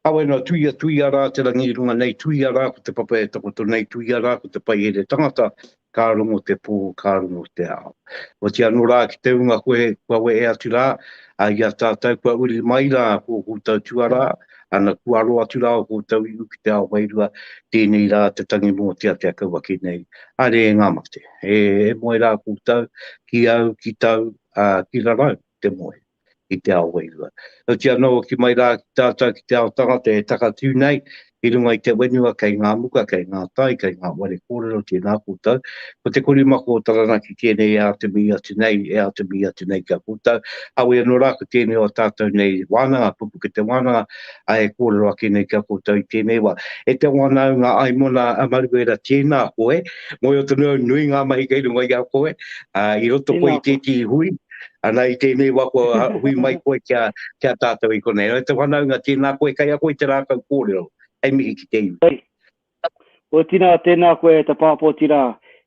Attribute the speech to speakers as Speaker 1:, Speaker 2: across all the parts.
Speaker 1: Kawe noa, tuia, tuia rā te rangi i runga nei, tuia rā ko te papa e takoto nei, tuia rā ko te paihere tangata, ka rongo te pō, ka rongo te ao. Oatia anō rā ki te ūnga koe, kua wehe atu rā, ā, i a tātou kua uri mai rā ō koutou tuarā, ana, kua aro atu rā ō koutou iwi ki te ao wairua, tēnei rā te tangi mōtea kia kau ake nei. Haere e ngā mate, e moe rā koutou, ki au, ki tau, ā, ki rarau te moe. i te ao wairua. Heoti anō, hoki mai rā ki tātou ki te ao tangata e takatū nei i runga i te whenua kei ngā muka, kei ngā tai, kei ngā whare kōrero, tēnā koutou. Ko te korimako o Taranaki tēnei e āta mihi atu nei, e āta mihi atu nei ki a koutou. Auē anō rā, ko tēnei o ā tātou nei wānanga, pupukete wānanga, ā, e kōrero ake nei ki a koutou i tēnei wā. E te wānaunga ai mona a Maruera, tēnā koe. Mōhio tonu au, nui ngā mahi kei runga i a koe, ā, i roto koe i tētehi hui, Ana i tēnei wa kua hui mai koe ki a, ki a tātou i konei. E te whanaunga, tēnā koe kei a koe te rākau kōrero. Hei mihi ki te iwi. Hei. Kua
Speaker 2: tina, tēnā koe e ta Pāpōti rā,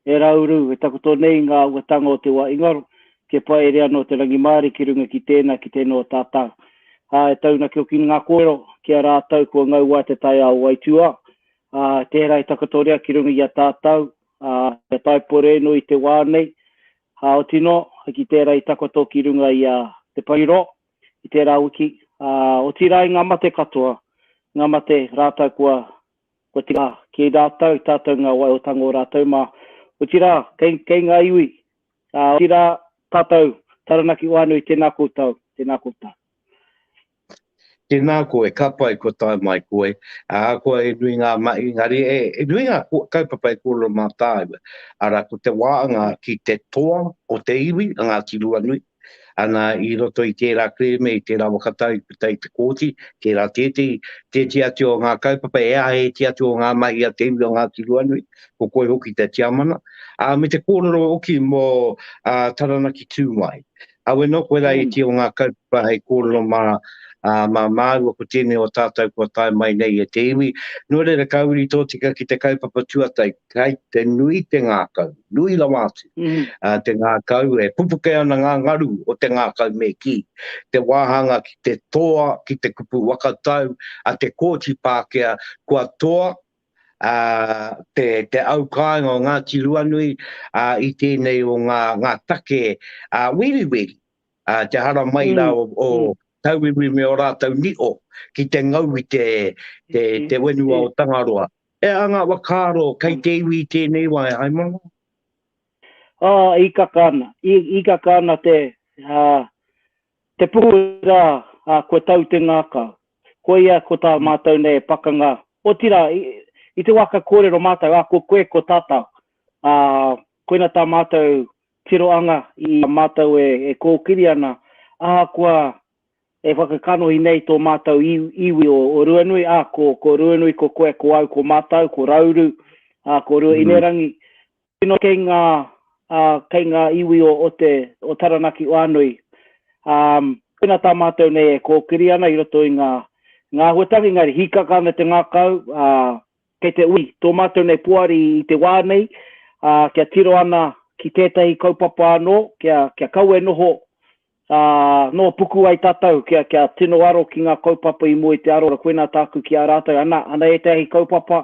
Speaker 2: e Rauru, e takoto nei ngā uatanga o te wa ingaro, kia paere ano te rangimārie ki runga ki tēnā, ki tēnō o tātau. Ā, e taunaki hoki ngā kōrero ki a rātau kua ngau wai te taiao o aituā, ā, tērā i takotoria ki runga i a tātau, ā, kia tae porēnui te wā nei, Ā, oti nō, ki tērā i takoto ki runga i a Te Parirō, i tērā wiki, ā, otirā i ngā mate katoa, ngā mate rātou kua, kua tika ki rātou, tātou ngā waiotango o rātou mā, otirā, kei, kei ngā iwi, ā, otirā, tātou, Taranaki Whānui, tēnā koutou, tēnā koutou. Tēnā
Speaker 1: koe, ka pai kua tae mai koe, ā, kua e nui ngā mahi, engari e, e nui ngā kaupapa e kōrero mā tāua, arā, ko te wānga ki te toa o te iwi, a Ngāti Ruanui, ana i roto i tērā kerēme, i tērā waka tau i puta i te kōti, tērā tētehi, tētehi atu o ngā kaupapa e āheitia atu o ngā mahi a te iwi o Ngāti Ruanui, ko koe hoki te Tiamana, ā, me te kōrero hoki mō, ā, Taranaki Tūmāi. Awe no koe la iti o nga kaupapa hei korero ma ma maua ko tenei o tatou kua tae mai nei e te iwi. No reira ka uri totika ki te kaupapa tuatai kai te nui te ngakau, nui rawa atu te ngakau e pupuke ana nga ngaru o te ngakau me ki te wahanga ki te toa ki te kupu waka tau a te Kooti Pakea kua toa te au kāinga o Ngāti Ruanui i tēnei o ngā take wiriwiri, te hara mai rā o tauiwi me ō rātou niho ki te ngau i te whenua o Tangaroa. E aha ngā whakaaro kei te iwi i tēnei wā e Haimana? Hīkaka
Speaker 2: ana, hīkaka ana te Te Puku rā, ā, kua tau te ngākau. Koia ko tā mātou nei e pakanga, otirā, i te wā ka kōrero mātou, ā, ko koe, ko tātou, ā, koina tā mātou tiroanga i a mātou e kōkiri ana, ahakoa e whakakanohi nei tō mātou iwi o Ruanui, ā, ko Ruanui, ko koe, ko au, ko mātou, ko Rauru, ā, ko Ruahinerangi, Tino kei nga kei nga iwi o te o Taranaki Whanui tena ta matou nei e kokiri ana i roto i nga nga ahuatangi engari hikaka ana te ngakau kei te ui to matou nei poari i te wa nei kia tiro ana ki tetahi kaupapa ano kia kia kau e noho Ā, nō puku ai tātou kia, kia tino aro ki ngā kaupapa i mua i te arora koinā tāku ki a rātou, ana, ana ētahi kaupapa,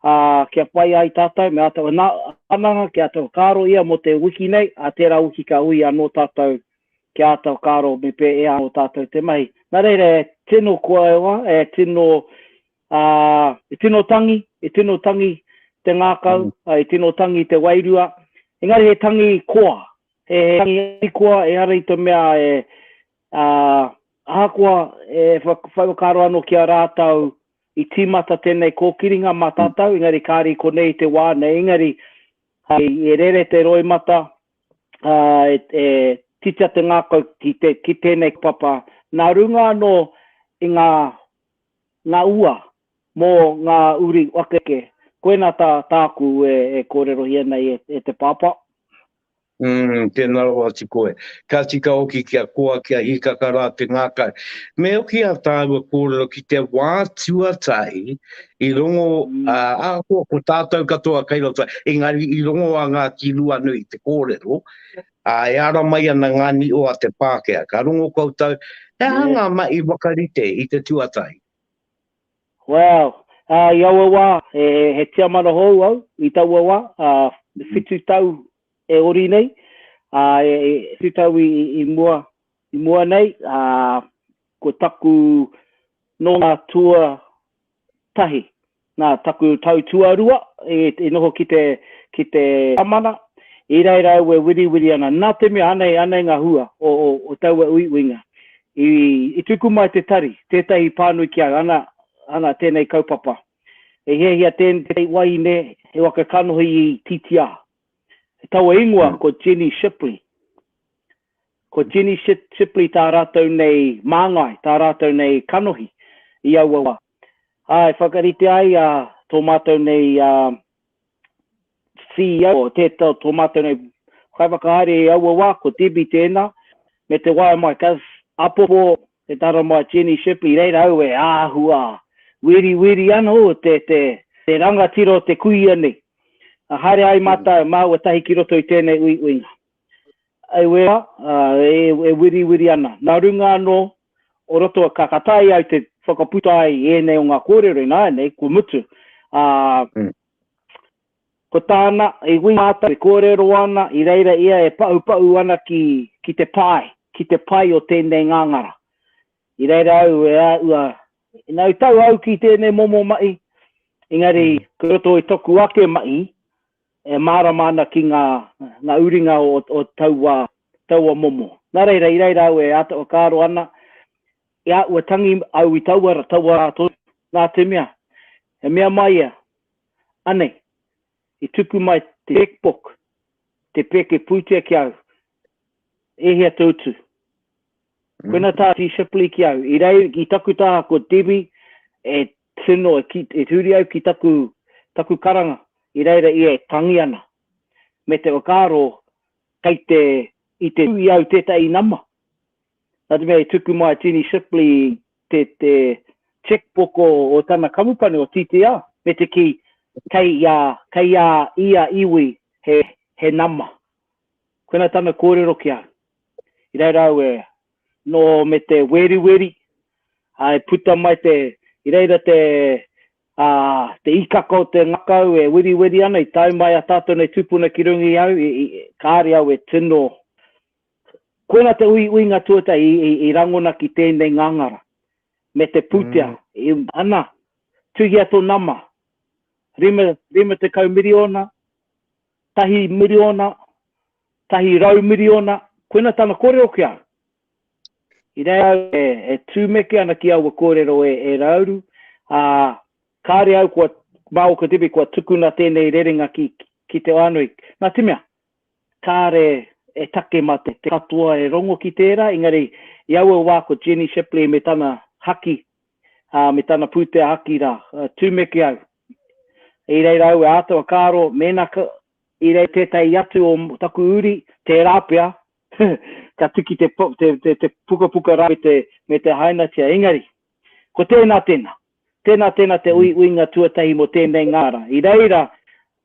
Speaker 2: ā, kia pai ai tātou, me ātou anā, ananga kia ātou whakaaro ia mō te wiki nei, ā, tērā wiki ka ui anō tātou kia ātou whakaaro me pē e ānō tātou te mahi. Nā reira e tino kōaioa, e tino Ā, e tino tangi, e tino tangi te ngākau, ā, e tino tangi te wairua, engari he tangi koa, he tangi arikoa, ehara i te mea e, ā, ahakoa e whai whakaaro anō ki a rātou i tīmata tēnei kōkiringa mā tātou, engari kāre i konei te wā nei, engari hei e rere te roimata, ā, e, e titia te ngākau ki te, ki tēnei papa, nā runga anō i ngā Nga ua, mo nga uri wakeke, koina ta taku e korerohia nei e te papa. Umm,
Speaker 1: tena rawa atu koe. Ka tika hoki kia koa, kia hikaka ra te ngakau. Me hoki a taua korero ki te wa tuatahi i rongo, a, ahakoa ko tatou katoa kai roto, engari i rongo a Ngati Ruanui i te korero, Ā, e ara mai ana ngā niho a te Pākehā. Ka rongo koutou, he aha ngā mahi whakarite i te tuatahi?
Speaker 2: Wow! Ā, i aua wā, he, he tiamana hou au i taua wā, ā, whitu tau e ori nei, ā, e, e, whitu tau i, i, i mua, i mua nei, ā, ko taku nōnā tua tahi. Nā taku tau tuarua i noho ki te, ki te Amana, i reira au e wiriwiri ana, nā te mea anei, anei ngā hua o, o, o taua uiuinga. I, i tuku mai te tari, tētahi i pānui ki au, ana, ana tēnei kaupapa. E hiahia tēnei wahine he waka kanohi i Tītiā. Taua ingoa ko Jenny Shipley. Ko Jenny Shipley tā rātou nei māngai, tā rātou nei kanohi i aua wā. Ā, e whakarite ai tō mātou nei CEO, tō mātou nei kaiwhakahaere i aua wā, ko Debbie tēnā, me te waea mai, ka apopo e tā rama Jenny Shipley, reira au e āhua wiriwiri anō te rangatira o te kuia nei. Haere ai mātou, māua tahi ki roto i tēnei uiuinga. I wera, e wiriwiri ana. Nā runga anō, o roto, ka taea au te whakaputa ai ēnei o ngā kōrero ināianei, kua mutu. Ā, ko tāna, i wī mātou e kōrero ana, i reira ia e paupau ana ki, ki te pae, ki te pai o tēnei ngāngara. I reira au e āhua, ina i tau au ki tēnei momo mahi, engari, kei roto i toku ake mahi, e mārama ana ki ngā, ngā uringa o, o taua, taua momo. Nā reira, i reira au e āta whakaaro ana, i a, ua tangi au i taua ra, taua rā tonu, nā te mea, he mea mai ia, anei, i tupu mai te cheque-book, te pēke pūtea ki au, e hea te utu? Koina tā Dee Shipley ki au, i rei, i taku tā ko Debbie, e Tino e huri au ki taku karanga i reira ia e tangi ana, me te whakaaro kei te, i te tū i au tētahi nama. Nā te mea i tuku mai a Jenny Shipley te cheque book o tana kamupani o TTR me te kī kei a, kei a ia iwi he nama. Koina tana kōrero ki au. I reira au e no me te weriweri a e puta mai te i reira te a te ikaka o te ngakau e weriweri ana i tau mai a tatou nei tupuna ki runga i au i kare au e tino koina te ui uinga tuata i, i, i rangona ki tēnei ngangara me te putea mm. i ana tuhia to nama rima rima te kau miliona tahi miriona, tahi rau miriona, koina tana korero ki a au. I reira au e, e tumeke ana ki aua korero e, e Rauru, a, kare au kua, ma o Katipi kua tukuna tenei rerenga ki, ki te Whanui. Na te mea, kare e take ma te, te katoa e rongo ki tera, engari i aua wa ko Jenny Shipley me tana haki, a, me tana putea haki ra, tumeke au, I reira au e āta whakaaro mēnā ka, i rei tētahi atu o taku uri, tērā pea, ka tuki te, te, te, te pukapuka rā me te, me te hainatia. Engari, ko tēnā, tēnā. Tēnā, tēnā te ui, uinga tuatahi mō tēnei ngāra. I reira,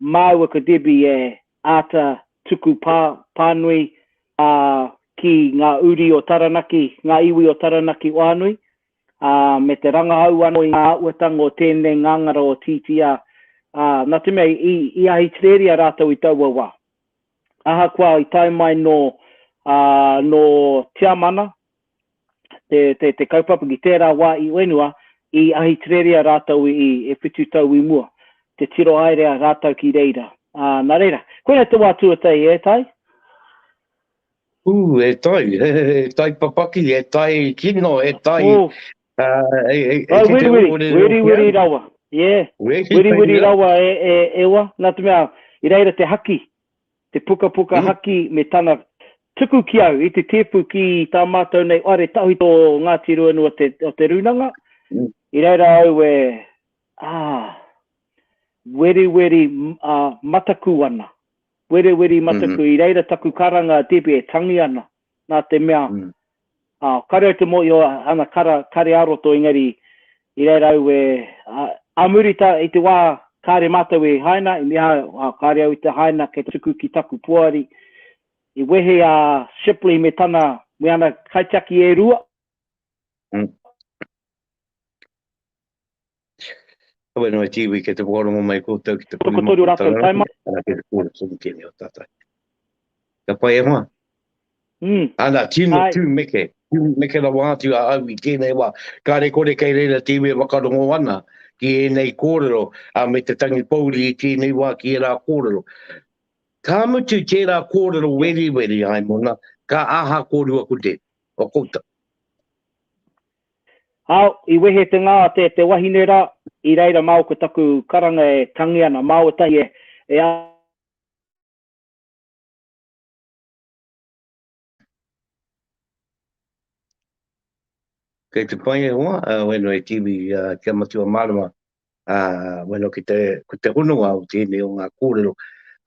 Speaker 2: māua ko Debbie e āta tuku pā, pānui ā, ki ngā uri o Taranaki, ngā iwi o Taranaki o Anui, ā, me te rangahau anō i ngā āhuatanga o tēnei ngāngara o Tītīā, ā, nā te mea i, i Ahitereria rātou i taua wā. Ahakoa i tae mai nō, ā, nō Tiamana te, te, te kaupapa ki tērā wā i whenua, i Ahitereria rātou i, e whitu tau i mua, te tiro haere a rātou ki reira. Ā, nā reira, koinei te wā tuatahi, e Tai? Ū,
Speaker 1: e tai, he tai papaki, he tai kino, he tai, ā, e, e, e kite ō kōrero ki au.
Speaker 2: Wiriwiri, wiriwiri rawa, yeah, wiriwiri rawa e, e, e wa, nā te mea, i reira te haki, te pukapuka haki me tana tuku ki au i te tēpu ki tā mātou nei whare tawhito o Ngāti Ruanui o te, o te Rūnanga, i reira au e, ā, weriweri, ā, mataku ana. Wereweri mataku, i reira taku karanga, Debbie, e tangi ana, nā te mea, ā, kāore au te mōhio āna kara, kāre ā-roto, engari, i reira au e, ā, ā muri tā, i te wā kāre mātou i haina, i mea au, ā, kāre au i te haina kei tuku ki taku poari, i wehe a Shipley me tana, me ana kaitiaki e rua.
Speaker 1: Kawe noa i te iwi kei te whakarongo mai koutou ki te puna mā kua tau rānei,
Speaker 2: ana kei te kōrero tonu
Speaker 1: tēnei o tātou. Ka pai e hoa? Mm. Ana, tino tū meke, tū meke rawa atu a au i tēnei wā. Kāre kore kei reira te iwi e whakarongo ana ki ēnei kōrero, a me te tangi pouri i tēnei wā ki ērā kōrero. Ka mutu tērā kōrero weriweri, Haimona, ka aha kōrua ko Deb, o koutou?
Speaker 2: Ao, i wehe te nga te te wahine ra, i reira mao ko taku karanga e tangi ana, mao etahi e, e.
Speaker 1: Kei te pai e hoa, a Weno e Tiwi, kia matua marama. ā, wano ki te, ko te hononga o tēnei o ngā kōrero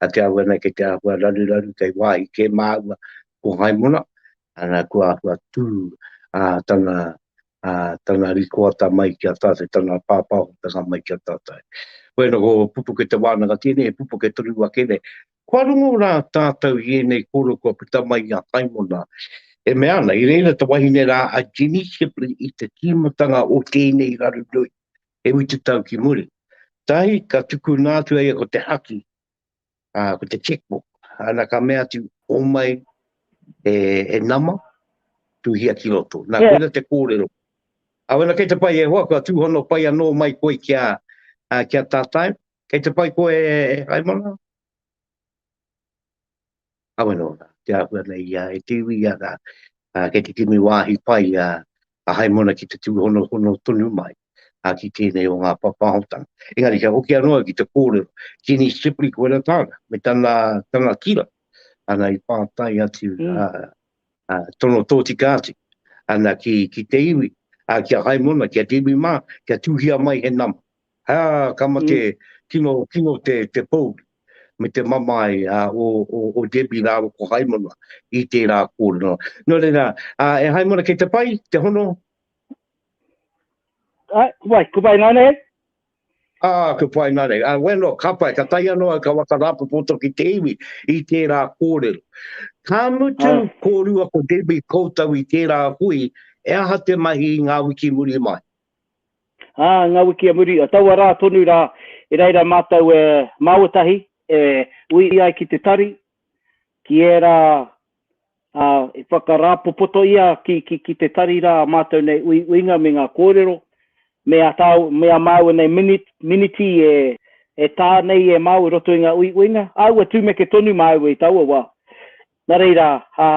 Speaker 1: a te ahu ana ki te āhua raruraru kei wāhi kē māua ko Haimona, ana kua āhua tū ā tana, ā, tana rikoata mai ki a tātou, tana pāpāhotanga mai ki a tātou. Koia nō ko Pupuke Te Wānanga tēnei, he pupuke tonu ake nei. Kua rongo rā tātou i ēnei kōrero kua puta mai i a Haimona, e mea ana, i reira te wahine rā a Jenny Shipley i te tīmatanga o tēnei rarunui. e utu tau ki muri. Tahi ka tukuna atu aia ko te haki, a, ko te checkbook, ana ka mea atu, o mai e, e nama, tuhia ki roto. Nā, yeah. koina te kōrero. A wena kei te pai e hoa, kua tūhono pai anō mai koe kia, a, kia tātai, kei te pai koe e, e haimana? Kawe no ra te ahua nei ia e te iwi ia ra, a kei te kimi wahi pai a a Haimona ki te tuhonohono tonu mai a ki tenei o nga papahotanga. Engari kia hoki ano au ki te korero, Jeannie Shipley ko era tana, me tana tana tira, ana i patai atu a a tono totika atu ana ki ki te iwi, a ki a Haimona, ki a te iwi ma, kia tuhia mai he nama. Ā, ka mate tino tino te, te pou me te mamae a, o, o, o Debbie rāua ko Haimana i tērā kōrero. Nō reira, ā, e Haimana kei te pai te hono?
Speaker 2: Ā, wai, ko pai nāne hei? Ā,
Speaker 1: ko pai nāne. Ā, wai anō, ka pai, ka tahi anō au ka waka rāpopoto ki te iwi i tērā kōrero. Ka mutu Ā. kōrua ko Debbie koutou i tērā hui, e aha te mahi i ngā wiki muri mai? Ā,
Speaker 2: ngā wiki a muri, taua rā tonu rā, i reira mātou e māuatahi, e ui ai ki te tari, ki ērā, ā, i whakarāpopoto ia ki, ki, ki te tari rā ā mātou nei uiuinga me ngā kōrero, me a tāu, me a māua nei minit, miniti e, e tā nei e māu i roto i ngā uiuinga, āua tūmeke tonu māua i taua wā. Nā reira, ā,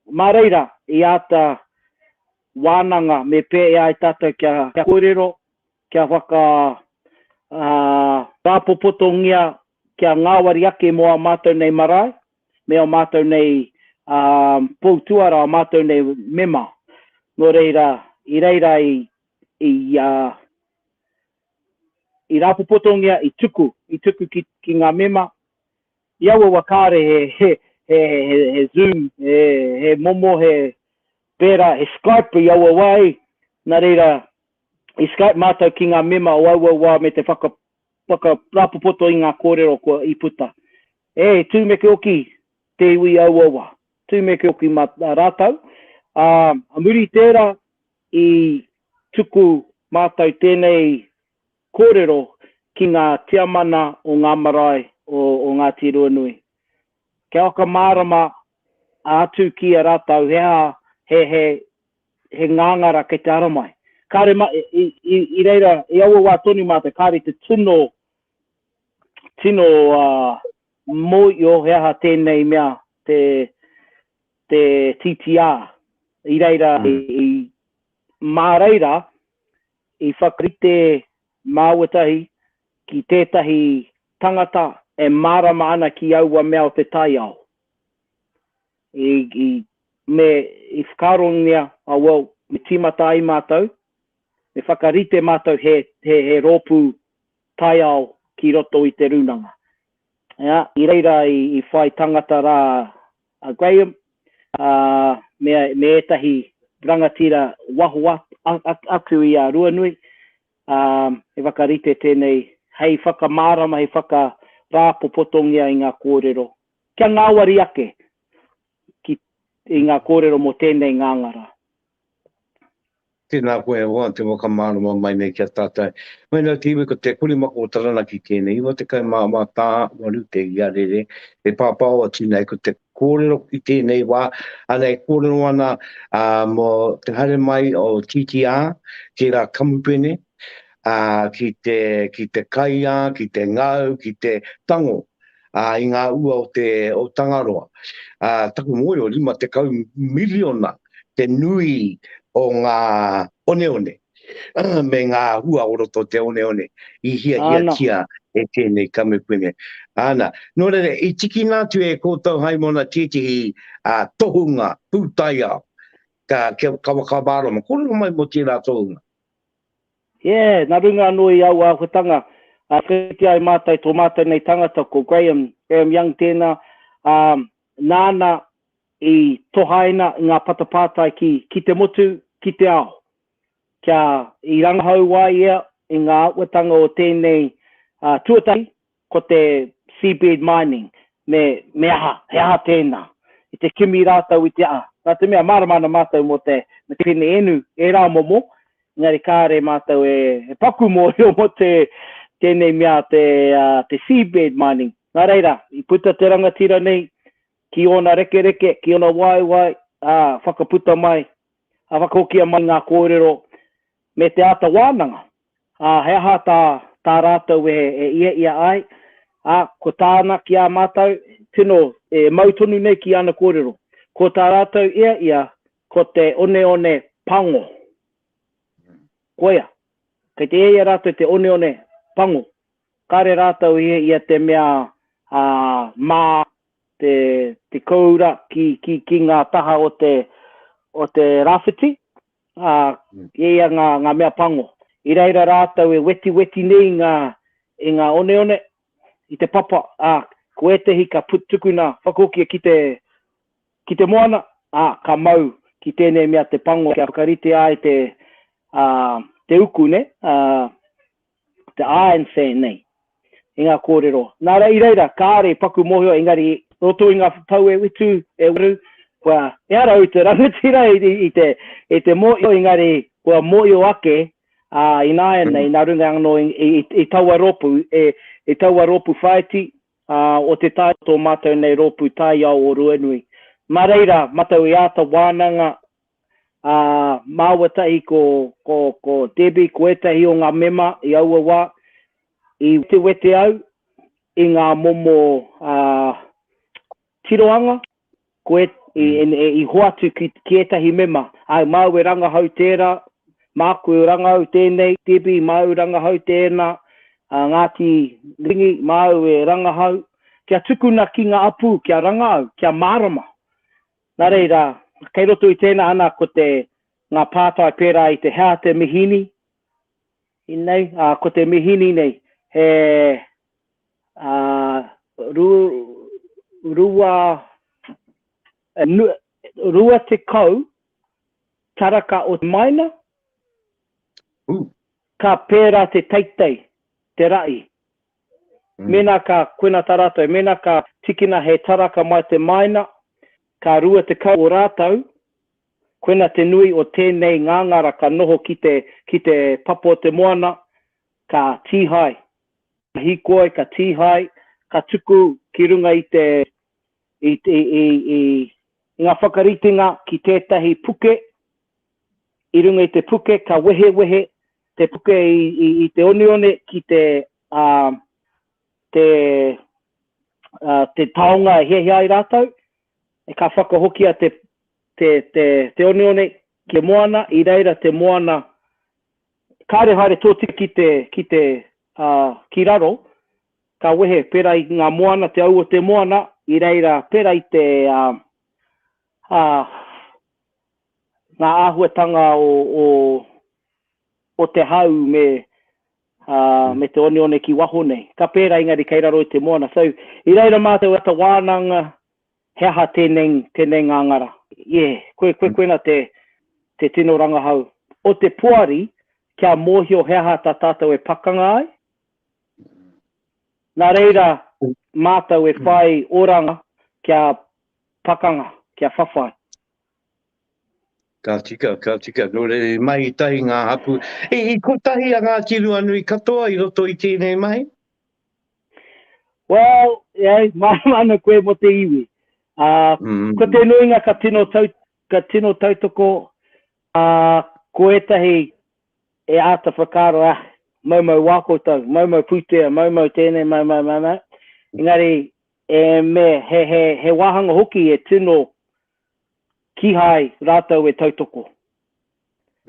Speaker 2: mā reira i āta, Wānanga, me pēea ai tātou kia kōrero, kia whaka, ā, rāpopotongia, kia ngāwari ake mō ā mātou nei marae, me ō mātou nei, ā, pou tuara, ō mātou nei mema. Nō reira, i reira i, i, ā, i rāpopotongia, i tuku, i tuku ki, ki ngā mema, I aua wa kāre he, he, he, he, he zoom, he, he momo, he, pērā, he Skype i aua wā ei, nā reira, i Skype mātou ki ngā mema o aua wā me te whaka, whaka rāpopoto i ngā kōrero kua, i puta. E, tūmeke oki te iwi i aua wā, tūmeke oki mā rātou, ā, muri i tērā, i tuku mātou tēnei Kōrero ki ngā Tiamana o ngā marae o Ngāti Ruanui. Kia whakamārama atu ki a rātou he aha, he ngāngara kei te ara mai. Kāre i reira, i aua wā tonu mātou, kāre i te tino tino mōio he aha tēnei mea te TTR. I reira, mā reira I whakarite māuatahi ki tētahi tangata e mārama ana ki aua mea o te taiao. I, me, i whakaarongia, oh well, me tīmata ai mātou, me whakarite mātou he, he, he rōpū taiao ki roto i te rūnanga. Ea, i reira i, i whai tangata rā a Graham, ā, me, me ētahi rangatira waho atu i a Ruanui, ā, he whakarite tēnei hei whakamārama, hei whakarāpopotongia i ngā kōrero, kia ngāwari ake ki, i ngā kōrero mō tēnei ngāngara. Tēnā
Speaker 1: koe e hoa te whakamārama mai nei ki a tātou. Mai nō te iwi ko te Kurimako o Taranaki tēnei, 94 tā, 8 te iarere, he pāpāo a Tinei, ko te kōrero i tēnei wā, ana e kōrero ana mō te haere mai o TTR ki ngā kamupene, ki te kaiā, ki te ngau, ki te tango ā, i ngā ua o te, o Tangaroa. Ā, taku mōhio, rima tekau miriona te nui o ngā oneone, me ngā hua o roto o te oneone i hiahiatia e tēnei kamupene. Āna, nō reira, i tikina atu e kōtou hai mona tētehi tohunga pūtaiao, ka, kia, ka whakamārama, kōrero mai mō tērā tohunga. Yeah,
Speaker 2: na runga ano i aua ahuatanga, a whakaritea ai matou to matou nei tangata ko Graham, Graham Young tena, a nana i tohaina i nga patapātai ki ki te motu, ki te ao. Kia i rangahau ai ia i nga ahuatanga o tenei a tuatahi, Ko te seabed mining, me, me aha, he aha tēnā? I te kimi rātou i te, ā, nā te mea mārama ana mātou mō te, mō te pene enu, ērā momo, engari kāre mātou e, e paku mōhio mō te, tēnei mea te, ā, te seabed mining. Nā reira, i puta te rangatira nei ki ōna rekereke, ki ōna waewae, ā, whakaputa mai, ā, whakahokia mai ngā kōrero me te āta wānanga. ā, he aha tā tā rātou wehe e iheia ai, ā, ko tāna ki ā mātou, tino e mau tonu nei ki ana kōrero, ko tā rātou iheia ko te oneone pango. Koia, kei te iheia rātou te oneone pango, kāre rātou iheia te mea ā, mā te, te kōura ki, ki, ki ngā taha o te, o te rāwhiti, ā, e ia ngā, ngā mea pango. I reira rātou e wetiweti nei i ngā, i ngā oneone, i te papa, ā, ko ētehi ka put, tukuna, whakahokia ki te, ki te moana, ā, ka mau ki tēnei mea te pango kia whakaritea ai te, ā, te uku, nē? Ā, te āen say nei i ngā kōrero. Nā reira, i reira, kāore i paku mōhio, engari roto i ngā whapau e whitu, e waru, kua ehara au i te rangatira i, i, i, te, i te mōhio, engari kua mōhio ake ā, ināianei, nā runga anō i, i, i taua rōpū, e, i taua rōpū whaiti ā, o te tae tō mātou nei rōpū taiao o Ruanui. Mā reira, matau i āta wānanga ā, māua tahi ko, ko, ko Debbie, ko ētahi o ngā mema i aua wā, i wetewete au i ngā momo ā, tirohanga, ko e, i, i hoatu ki, ki ētahi mema. Āe, māu e rangahau tērā, māku e rangahau tēnei, Debbie, māu rangahau tēnā, ā, Ngāti Rangi, māu e rangahau, kia tukuna ki ngā apu kia rangahau, kia mārama. Nā reira, kei roto i tēnā ana ko te, ngā pātai pērā i te hea te mihini, inei, ā, ko te mihini nei, he, ā, ru, rua, e, nu, rua tekau taraka o te maina, Ooh. ka pērā te teitei, te raʻi. Mēnā ka koena tā rātou, mēnā ka tikina he taraka mai te māina, ka rua tekau o rātou, koena te nui o tēnei ngāngara ka noho ki te, ki te papa o te moana, ka tīhae, ka hīkoi, ka tīhae, ka tuku ki runga i te, i, i, i, i ngā whakaritenga ki tētahi puke, i runga i te puke, ka wehewehe te puke i, i, i te onione ki te, uh, te, uh, te taonga e hiahia ai rātou, e ka whakahokia te, te, te, te onione ki te moana, i reira te moana, kāre haere tōtika ki te, ki te, uh, ki raro, ka wehe pera i ngā moana, te au o te moana, i reira pera i te, uh, uh, ngā āhuatanga o, o, o te hau me, uh, me te oneone ki waho nei. Ka pērā engari kei raro i te moana. So, i reira mātou at a wānanga, he aha tēnei, tēnei ngā ngara. Yeah, koe, koe, koena te, te tino rangahau o te poari kia mōhio he aha tā tātou e pakanga ai. Nā reira mātou e whai oranga kia pakanga, kia whawhai. Ka
Speaker 1: tika, ka tika, nō reira i mahi tahi ngā hapū. I, i kotahi a Ngāti Ruanui katoa i roto i tēnei mahi? Well,
Speaker 2: yeah, mārama ana koe mō te iwi. Uh, mm. Ko te nuinga ka tino, tau, ka tino tautoko, uh, ko ētahi e āta whakaaro, ah, mau mau wā koutou, mau mau pūtea, mau mau tēnei, mau mau mau mau. Engari, e me, he, he, he wāhanga hoki e tino kihai rātou e tautoko.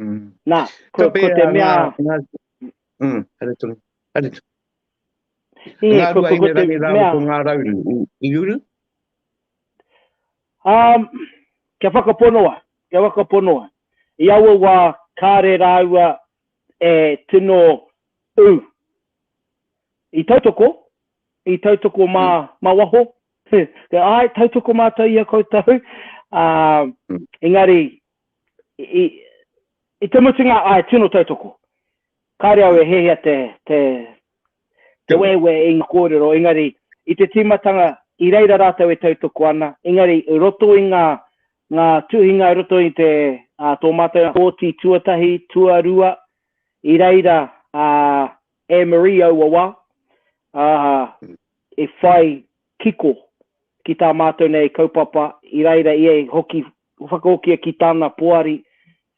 Speaker 2: Mm. Nā, ko, ko te mea... Ngā, ngā, mm,
Speaker 1: haere tonu, haere tonu.
Speaker 2: E, ngā ko, ko, ko te mea...
Speaker 1: Ko ngā rauru, i, i uru?
Speaker 2: Um, kia whakaponoa, kia whakaponoa. I aua wā, kāre rāua e tino ū. I tautoko, i tautoko mā, mm. mā waho, Āe, tautoko mātou i a koutou, ā, engari, i, i te mutunga, āe, tino tautoko. Kāre au e hiahia te, te, te wewe i ngā kōrero, engari, i te tīmatanga, i reira rātou e tautoko ana, engari, i roto i ngā, ngā tuhinga i roto i te, ā, tō mātou pōti tuatahi, tuarua, i reira, ā, Anne-Marie aua wā, ā, e whai kiko ki tā mātou nei kaupapa, i reira ia i hoki, whakahokia ki tana poari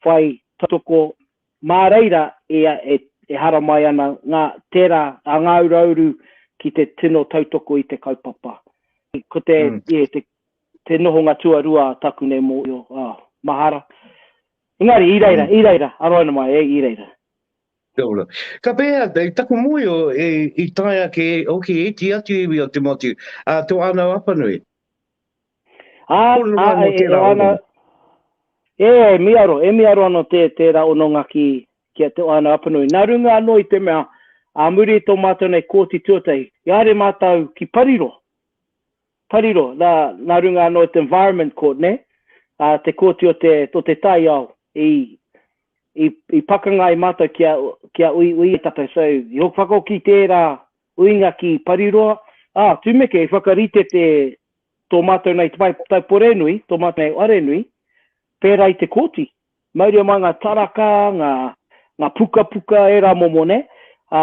Speaker 2: whai tautoko, mā reira ia e, e haramai ana ngā, tērā, a Ngāu Rauru ki te tino tautoko i te kaupapa. Ko te, mm. yeah, te, te nohonga tuarua a taku nei mō io, ah, mahara. Engari, i reira, mm. i reira, aroina mai, e, i reira. Kia ora.
Speaker 1: Ka pēhea, i taku mōhio, i tae ake hoki e iti atu iwi o Te Motu, ā, tō Anau Apanui. Ā, ā, e āna,
Speaker 2: e, e miaro, e miaro anō tē, tērā hononga ki, ki a Te Anau Apanui. Nā runga anō i te mea, ā muri i tō mātou nei Kōti Tuatahi, i haere mātou ki Pariro. Pariro, nā, nā runga anō i te Environment Court, nē, ā, te kōti o te, o te taiao, i, i, i pakanga ai mātou kia, kia uiui e tātou. So, i hoki whakahoki tērā uinga ki Pariroa, ā, tumeke i whakarite te, tō mātou nei tai, taiporenui, tō mātou nei arenui, pērā i te kōti. Mauria mai ngā taraka, ngā, ngā pukapuka, ērā momo, nē, ā,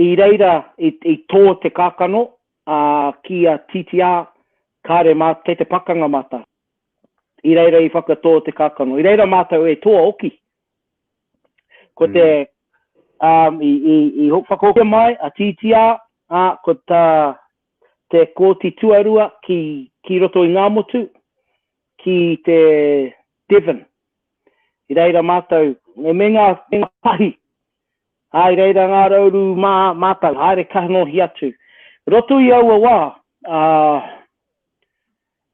Speaker 2: I reira i tō te kākano ki a TTR kāre mā kei te pakanga mātou. I reira i whakatō te kākano. I reira mātou e toa oki. Ko te, um, i, i, i whakahokia mai a TTR, a, ko ta, te kōti tuarua ki, ki roto i Ngāmotu, ki te Devon. I reira mātou, me meinga ngā pahi, ā, i reira ngā rauru mā mātou, haere kanohi atu. I roto i aua wā, ā,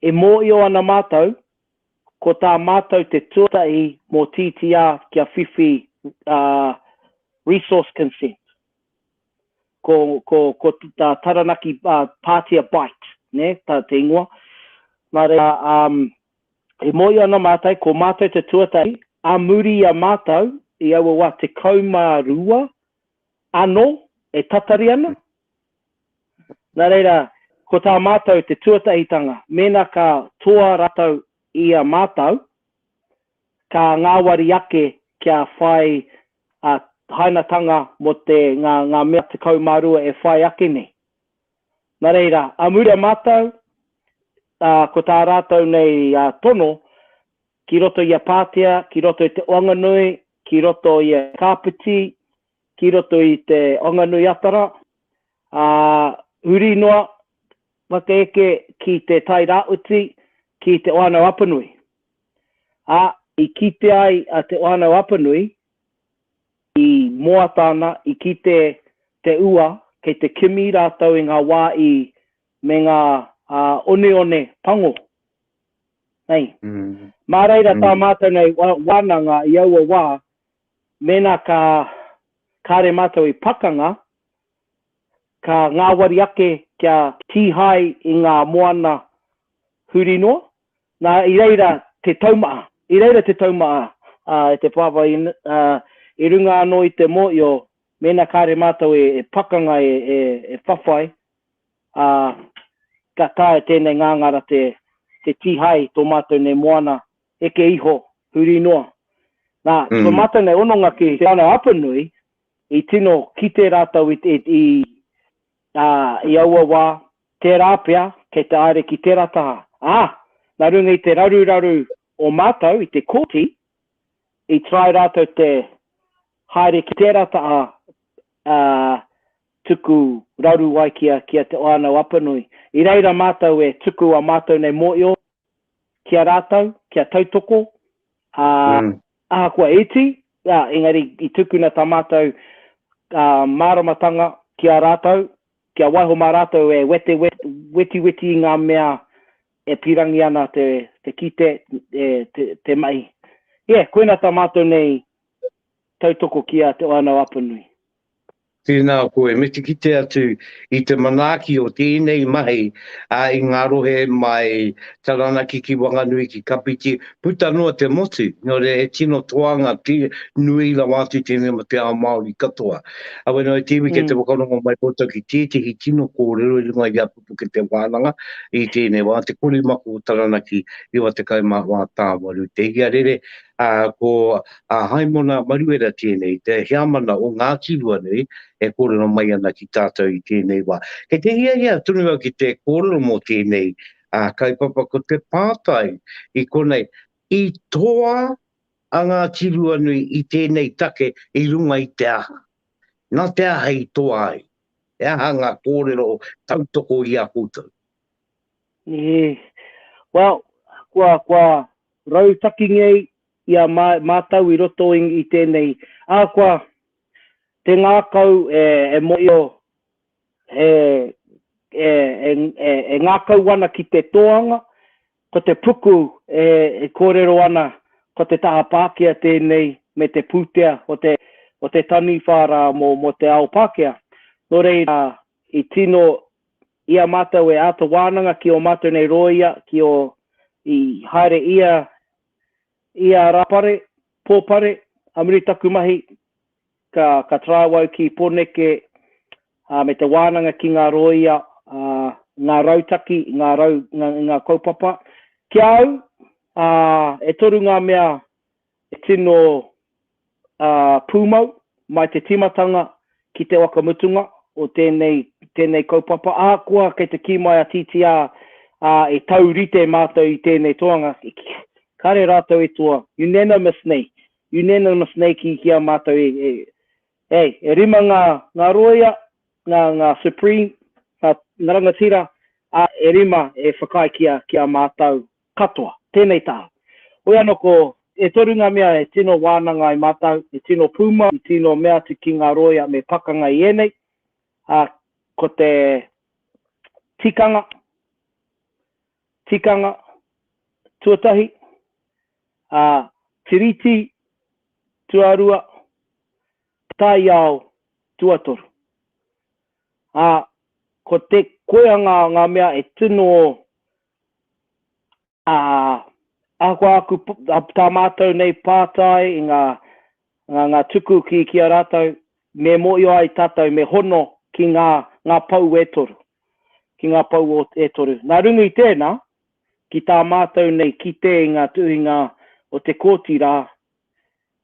Speaker 2: e mōio ana mātou, ko tā mātou te tuatahi mō TTR kia whiwhi, ā, resource consent. Ko, ko, ko tā Taranaki, ā, Pātia Bight, nē, tā te ingoa. Nā reira, ā, E moe ana mātou, ko mātou te tuatahi, ā muri i a mātou, i aua wā tekau mā rua anō e tatari ana. Nā reira, ko tā mātou te tuatahitanga, mēnā ka toa ratou i a mātou, ka ngāwari ake kia whai hainatanga mō te, ngā, ngā mea tekau mā rua e whai ake nei. Nā reira, ā mura mātou, ā, ko tā rātou nei tono, ki roto i a Pātea, ki roto i te Oanganui, ki roto i a Kāpiti, ki roto i te Oanganui Atara, ā, huri noa, whaka eke ki te Tai Rāwhiti, ki te Whānau Apanui. Ā, i kite ai a Te Whānau Apanui, I moata ana, i kite te ua, kei te kimi rātou i ngā wā i, me ngā oneone pango. Nei. Mā reira tā mātou nei wānanga i aua wā, mēnā ka kāre mātou i pakanga, ka ngāwari ake kia kīhai i ngā moana huri noa. Nā, i reira te taumaha, i reira te taumaha e te Pāpā i runga anō i te mōhio mēnā kāre mātou e pakanga, e whawhai, ā, ka taea tēnei ngāngara te kīhai i tō mātou nei moana heke iho, huri noa. Nā, ko mātou nei hononga ki Te Whānau Apanui, I tino kite rātou i, i, i, ā, i aua wā, tērā pea, kei te aere ki tērā taha. Ā, nā runga i te raruraru o mātou i te kōti, i try rātou te haere ki tērā taha, ā, tuku raru ai ki a, ki a Te Whānau-a-Apanui. I reira mātou e tuku a mātou nei mōio ki a rātou, kia tautoko, ā, Ahakoa iti, ā, engari i tukuna tā mātou māramatanga ki a rātou, kia waiho mā rātou e wete wetiweti i ngā mea e pīrangi ana te kite, te mahi. Ia, koina tā mātou nei tautoko ki a Te Whānau Apanui. Tēnā
Speaker 1: koe, me te kite atu i te manaaki o tēnei mahi i ngā rohe mai Taranaki ki Wanganui ki Kapiti, puta noa te motu, nō reira he tino toanga nui rawa atu tēnei mō te ao Māori katoa. Awena o te iwi kei te whakarongo mai koutou ki tētehi tino kōrero i runga i a. puke te wānanga i tēnei wā, te kori mako o Taranaki 94 tāwaru te iarere, ā, ko a Haimona Maruera tēnei, te heamana o Ngāti Ruanui e kōrero mai ana ki tātou i tēnei wā. Kei te hiahia tonu au ki te kōrero mō tēnei kaupapa, ko te pātai i konei, i toa a Ngāti Ruanui i tēnei take i runga i te aha? Nā te aha i toa ai? He aha ngā kōrero tautoko i a koutou? Nihī,
Speaker 2: Well, kua, kua rautaki ngei i a mā, mātou i roto i, i tēnei ahakoa te ngākau e, e mōhio he, e, e, e, e ngākau ana ki te tōanga, Ko te puku e kōrero ana ko te taha Pākehā tēnei me te pūtea o te taniwha rā mō te ao Pākehā. Nō reira, i tino i a mātou e āta wānanga ki ō mātou nei rōia, ki ō i haere ia rā pare, pō pare, a muri taku mahi, ka, ka traou au ki Poneke, ā, me te wānanga ki ngā rōia, ā, ngā rautaki, ngā rau, ngā, ngā kaupapa. Ki a au, ā, e toru ngā mea e tino, ā, pūmau mai te tīmatanga ki te waka mutunga o tēnei, tēnei kaupapa. Ahakoa kei te kī mai a TTR, ā, e taurite mātou i tēnei toanga, kāre rātou i toa unanimously Unanimous nei ki, ki a mātou e, e, hey, e rima ngā, ngā rōia, ngā, ngā Supreme, ngā, ngā rangatira, ā, e rima e whakaae ki a, ki a mātou katoa. Tēnei tā. Hoi anō ko, e toru ngā mea e tino wānanga ai mātou, e tino pūmau, e tino mea atu ki ngā rōia me pakanga i ēnei, ā, ko te tikanga, tikanga tuatahi, ā, tiriti tuarua, taiao tuatoru. Ā, ko te koea ngā, ngā mea e tino, ā, ahakoa aku, tā mātou nei pātai i ngā ngā, ngā tuku ki, ki a rātou, me mōhio ai tātou, me hono ki ngā, ngā pou e toru, ki ngā pou o, e toru. Nā rungu i tēnā, ki tā mātou nei kite i ngā tuhinga o te Kōti rā,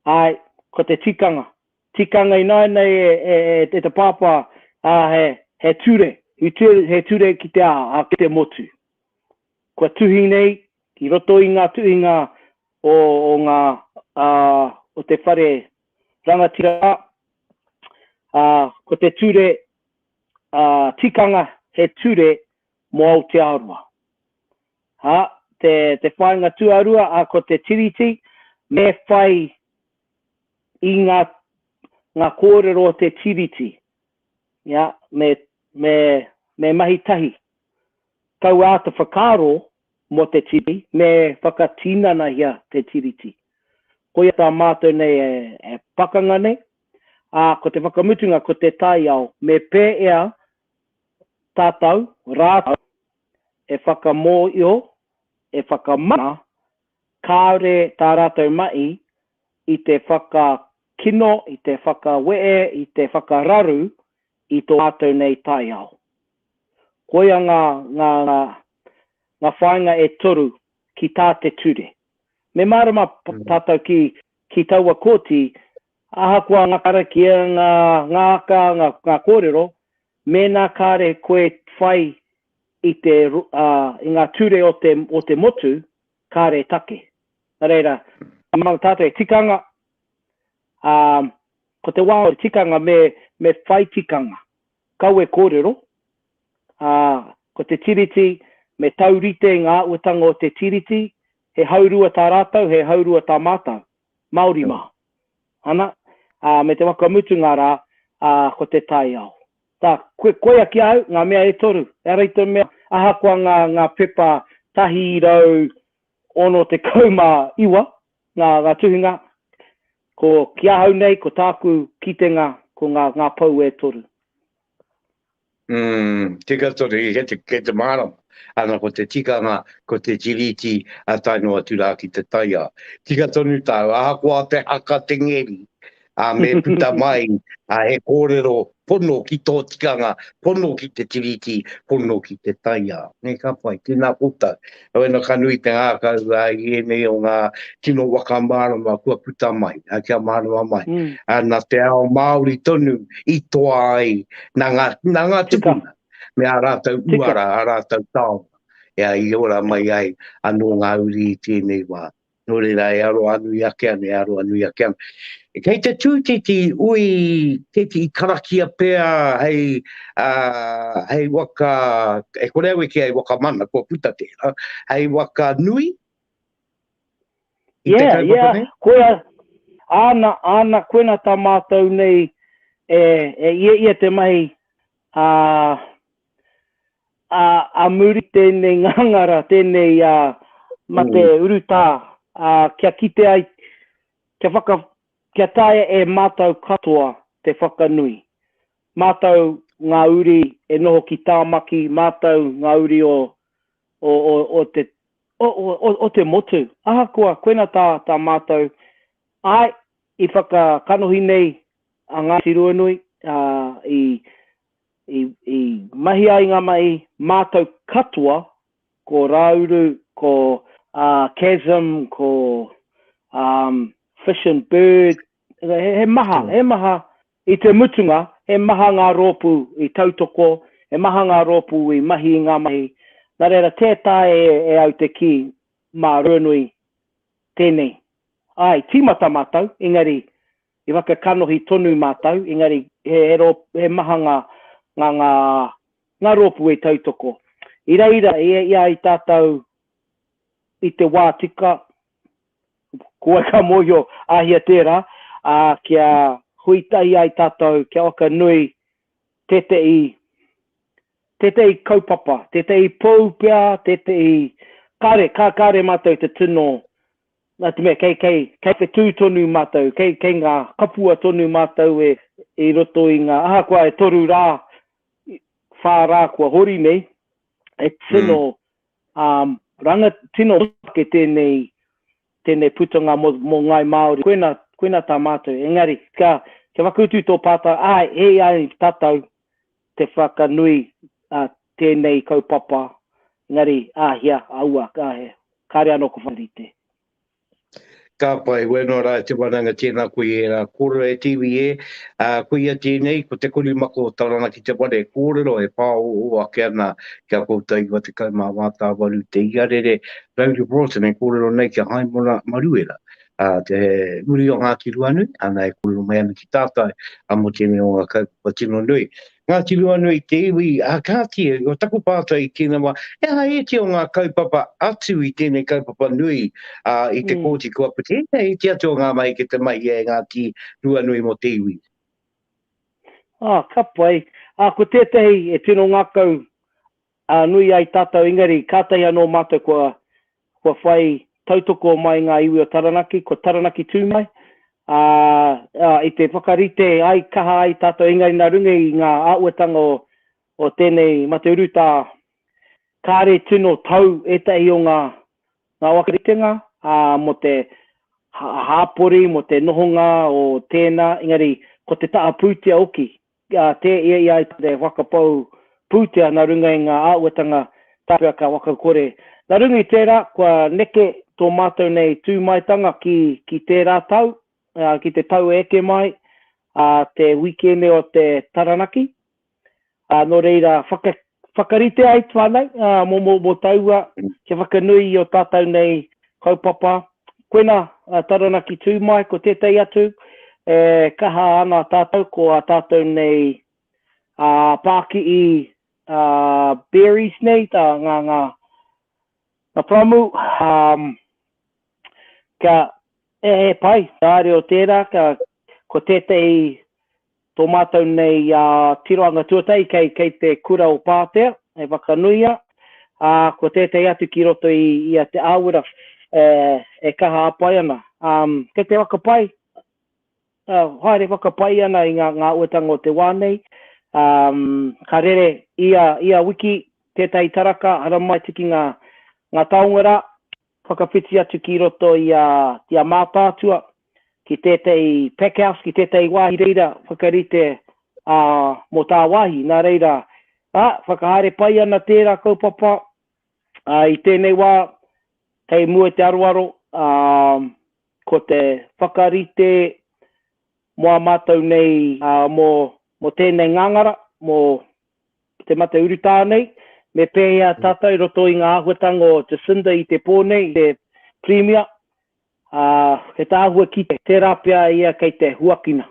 Speaker 2: āe, ko te tikanga, tikanga ināianei e, e, e, e te Pāpā, ā, he, he ture, he ture, he ture ki te, ā, ā, ki te motu. Kua tuhi nei, i roto i ngā tuhinga o o nga a o te whare rangatira a a ko te ture a tikanga he ture mo Aotearoa a te te whainga tuarua a ko te tiriti me whai i nga nga korero o te tiriti ya me me me mahi tahi tau ata whakaro Mō te Tiriti, me whakatinanahia te Tiriti. Koia tā mātou nei e pakanga nei, ā, ko te whakamutunga ko te taiao me pēea tātou rātou e whakamōio, e whakamana kāore tā rātou mahi i te whakakino, i te whakawehe, i te whakararu i tō mātou nei taiao. Koia ngā, ngā, ngā, ngā whāinga e toru ki tā te ture. Me mārama tātou ki, ki taua kōti, ahakoa ngā karakia, ngā, ngā aka, ngā, ngā kōrero, mēnā kāre koe whai i te, ā, i ngā ture o te, o te motu, kāre take. Nā reira, mā tātou e tikanga, ā, ko te wā o te tikanga me, me whai tikanga, kawe kōrero, ā, ko te Tiriti, me taurite ngā āhuatanga o te Tiriti, he haurua tā rātou, he haurua tā mātou, Māori mā. Ana, ā, me te whakamutunga rā, ā, ko te taiao. Tā, koe, koia ki a au, ngā mea e toru, ehara i te mea, ahakoa ngā, ngā pepa 169, Nā ngā tuhinga, ko, ki ahau nei, ko tāku kitenga, ko ngā, ngā pou e toru. Umm,
Speaker 1: tika tonu, kei te, kei te mārama. Ana ko te tikanga, ko te tiriti, a tae noa atu rā ki te taiao. Tika tonu tāu, ahakoa te haka te ngeri, ā, me puta mai he kōrero pono ki tō tikanga, pono ki te tiriti, pono ki te taiao. Nē, ka pai, tēnā koutou. Wena ka nui te ngākau i ēnei o ngā tino waka mārama kua puta mai, kia mārama mai. Nā te ao Māori tonu i toa ai, nā ngā tupuna, me ā rātou uara, ā rātou taonga, i ora mai ai anō ngā uri i tēnei wā. Nō reira e aroa nui ake ana, e aroa nui ake ana. Kei te tū tēti ui, tēti i karakia pea hei, uh, hei waka, e kore au e kia hei waka mana, kua puta tēra, hei waka nui? I yeah,
Speaker 2: yeah. Nei? Koia, āna, āna koena tā mātou nei e, e ia ia te mahi, uh, ā, ā muri tēnei ngangara, tēnei ā, mate urutā, ā, kia kite ai, kia whaka, kia taea e mātou katoa te whakanui. Mātou ngā uri e noho ki Tāmaki, mātou ngā uri o, o, o, o te, o, o, o, o te motu. Ahakoa, koina tā, tā mātou, āe, i whakakanohi nei a Ngāti Ruanui, ā, i, i, i mahi ai ngā mahi mātau katoa, ko Rāuru, ko uh, Chasm, ko um, Fish and Bird, he, he maha, he maha, i te mutunga, he maha ngā rōpū i tautoko, he maha ngā rōpū i mahi i ngā mahi, nā reira tē tae e, e au te kī mā Ruanui tēnei. Ai, tīmata mātou, engari I whakakanohi tonu mātou, engari he he maha ngā ngā ngā ngā rōpū e tautoko. I reira e i a i tātou i te wā tika, ko wai ka mōhio a hia tērā, ā, kia hui tahi ai tātou, kia waka nui tētehi tētehi kaupapa, tētehi pou pea, tētehi kāre, kā kāre mātou te tino Nā te mea, kei, kei, kei te tū tonu mātou, kei, kei ngā kapua tonu mātou e, i roto i ngā, ahakoa e toru rā, whā rā kua hori nei, e tino, um, ranga, tino ke tēnei, tēnei putanga mō, mō Ngāi Māori, koina, koina tā mātou, engari, ka, kia whakautu tō pātai, āe, e ai tātou, te whakanui a tēnei kaupapa, engari āhea aua, kāre anō kua whakarite.
Speaker 1: Ka pai, wēnā no rā e te wānanga tēnā koe i ērā kōrero e te iwi e, ā, koia tēnei, ko te korimako o Tarana ki te whare, kōrero e pāoho ake ana ki a koutou 98 te iarere, David Broughton e kōrero nei ki a Haimona Maruera, a te muri o Ngāti Ruanui, ana e kōrero mai ana ki tātai a mō tēnei o ngā kaupapa tino nui. Ngāti Ruanui te iwi, a kāti, o taku pātai i tīnawa, he aha ēti o ngā kaupapa atu i tēnei kaupapa nui a, i te kōti kua puti, he aha ēti atu o ngā mahi ki te mahi e Ngāti Ruanui mō te iwi? Ah, ka
Speaker 2: pai. Ah, ko tētahi e tino ngākau ā, nui ai tātou, engari kātahi anō mātou kua, kua whai tautoko mai ngā iwi o Taranaki, kua Taranaki tū mai, ā, ā, i te whakarite ai, kaha ai tātou, engari nā runga i ngā āhuatanga o, o tēnei mate urutā, kāre tino tau ētahi o ngā, ngā whakaritenga, ā, mō te hāpori, mō te nohonga o tēnā, engari ko te taha pūtea hoki, Ka tē ia i a ia te whakapau pūtea nā runga i ngā āhuatanga tāpua ka wakakore. Nā runga i tērā, kua neke tō mātou nei tūmaetanga ki, ki tērā tau, ā, ki te tau e eke mai, ā, te wīkēne o te Taranaki, ā, nō reira, whaka, Whakarite ai whanau mo mo mo taua kia whakanui i o tatau nei kaupapa. Koina a Taranaki tū mai ko tētai atu e kaha ana tātou ko a tātou nei a pākiʻi a berries nei tā ngā ngā ngā pāmu um, kia e he pai tā reo tērā kia ko tētai Tō mātou nei tirohanga tuatahi kei kei te Kura o Pātea, hei whakanuia, ā, ko tētehi atu ki roto i i a Te Āwera e kaha a pai ana. Kei te whakapai, haere whakapai ana i ngā ngā uatanga o te wā nei. Ka rere ia ia wiki tētahi taraka haramai tiki ngā ngā taonga rā, Whakawhiti atu ki roto i a i a Mātaatua, ki tētahi pack house, ki tētahi wāhi reira whakarite ā, mō tāwāhi. Nā reira, ā, whakahaere pai ana tērā kaupapa, ā, i tēnei wā, kei mua te aroaro, ā, ko te whakarite mō ā mātou nei, ā, mō, mō tēnei ngāngara, mō, te mate urutā nei, me pēhea tātou i roto i ngā āhuatanga o Jacinda i te pō nei, te Pirimia, ā, he tāhua ki tērā pea ia kei te huakina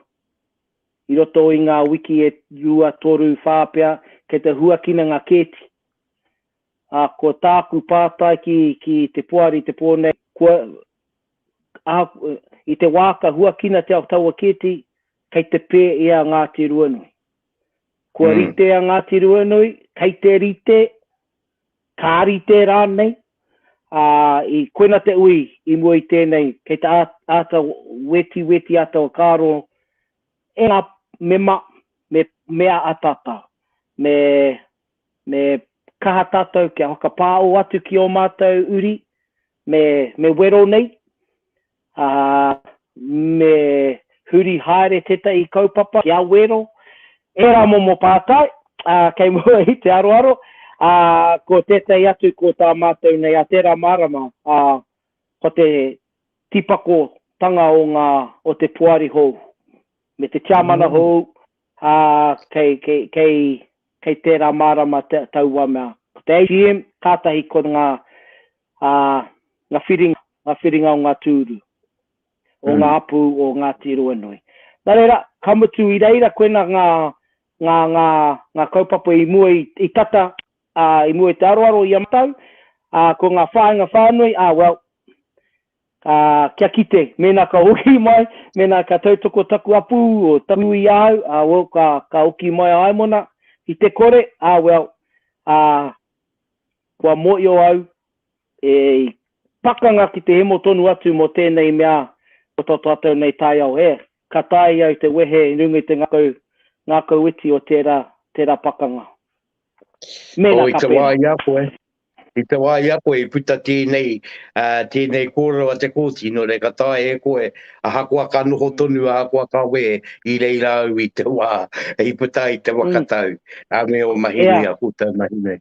Speaker 2: i roto i ngā wiki e rua, toru, whā pea, kei te huakina ngā kēti. Ā, ko tāku pātai ki, ki te Poari i te pō nei, kua, ā, i te wā ka huakinatia taua kēti, kei te pē i a Ngāti Ruanui? Kua rite a Ngāti Ruanui, kei te rite, ka rite rānei, ā, i koina te ui i mua i tēnei, kei te āta wetiweti, āta whakaaro e ngā mema me mea ataata, me, me kaha tātou kia whakapāo atu ki ō mātou uri me, me wero nei, ā, me huri haere tētahi kaupapa kia wero ērā momo pātai kei mua i te aroaro, ā, ko tētahi atu ko tā mātou nei a tērā marama, ā, ko te tīpakotanga o ngā, o te poari hou, me te tiamana hou, ā, kei, kei, kei, kei tērā marama taua mea. Ko te AGM, kātahi ko ngā Ā, ngā whiringa, ngā whiringa o ngā tūru, o ngā hapū o Ngāti Ruanui. Nā reira, ka mutu i reira koinā ngā, ngā, ngā, ngā kaupapa i mua i tata, ā, i mua i te aroaro i a mātou, ā, ko ngā whāinga whānui, ā, well, ā, kia kite, mēnā ka hoki mai, mēnā ka tautoko taku hapū o taku i ahau, ā, well, ka, ka hoki mai a Aemona i te kore, ā, well, ā, Kua mōio au, e pakanga ki te hemo tonu atu mō tēnei mea ko tō tātou nei taiao hē. Ka taea au te wehe i runga i te ngakau, ngākau iti o tērā, tērā pakanga.
Speaker 1: Mēnā ka pēnā. Oh, i te wā i a koe, i te wā i a koe i puta tēnei, tēnei kōrero a te Kōti, nō reira ka taea e koe, Ahakoa ka noho tonu, ahakoa ka wehe, i reira au i te wā i puta ai te waka tau, a me o Mahinui, a koutou mahi nei.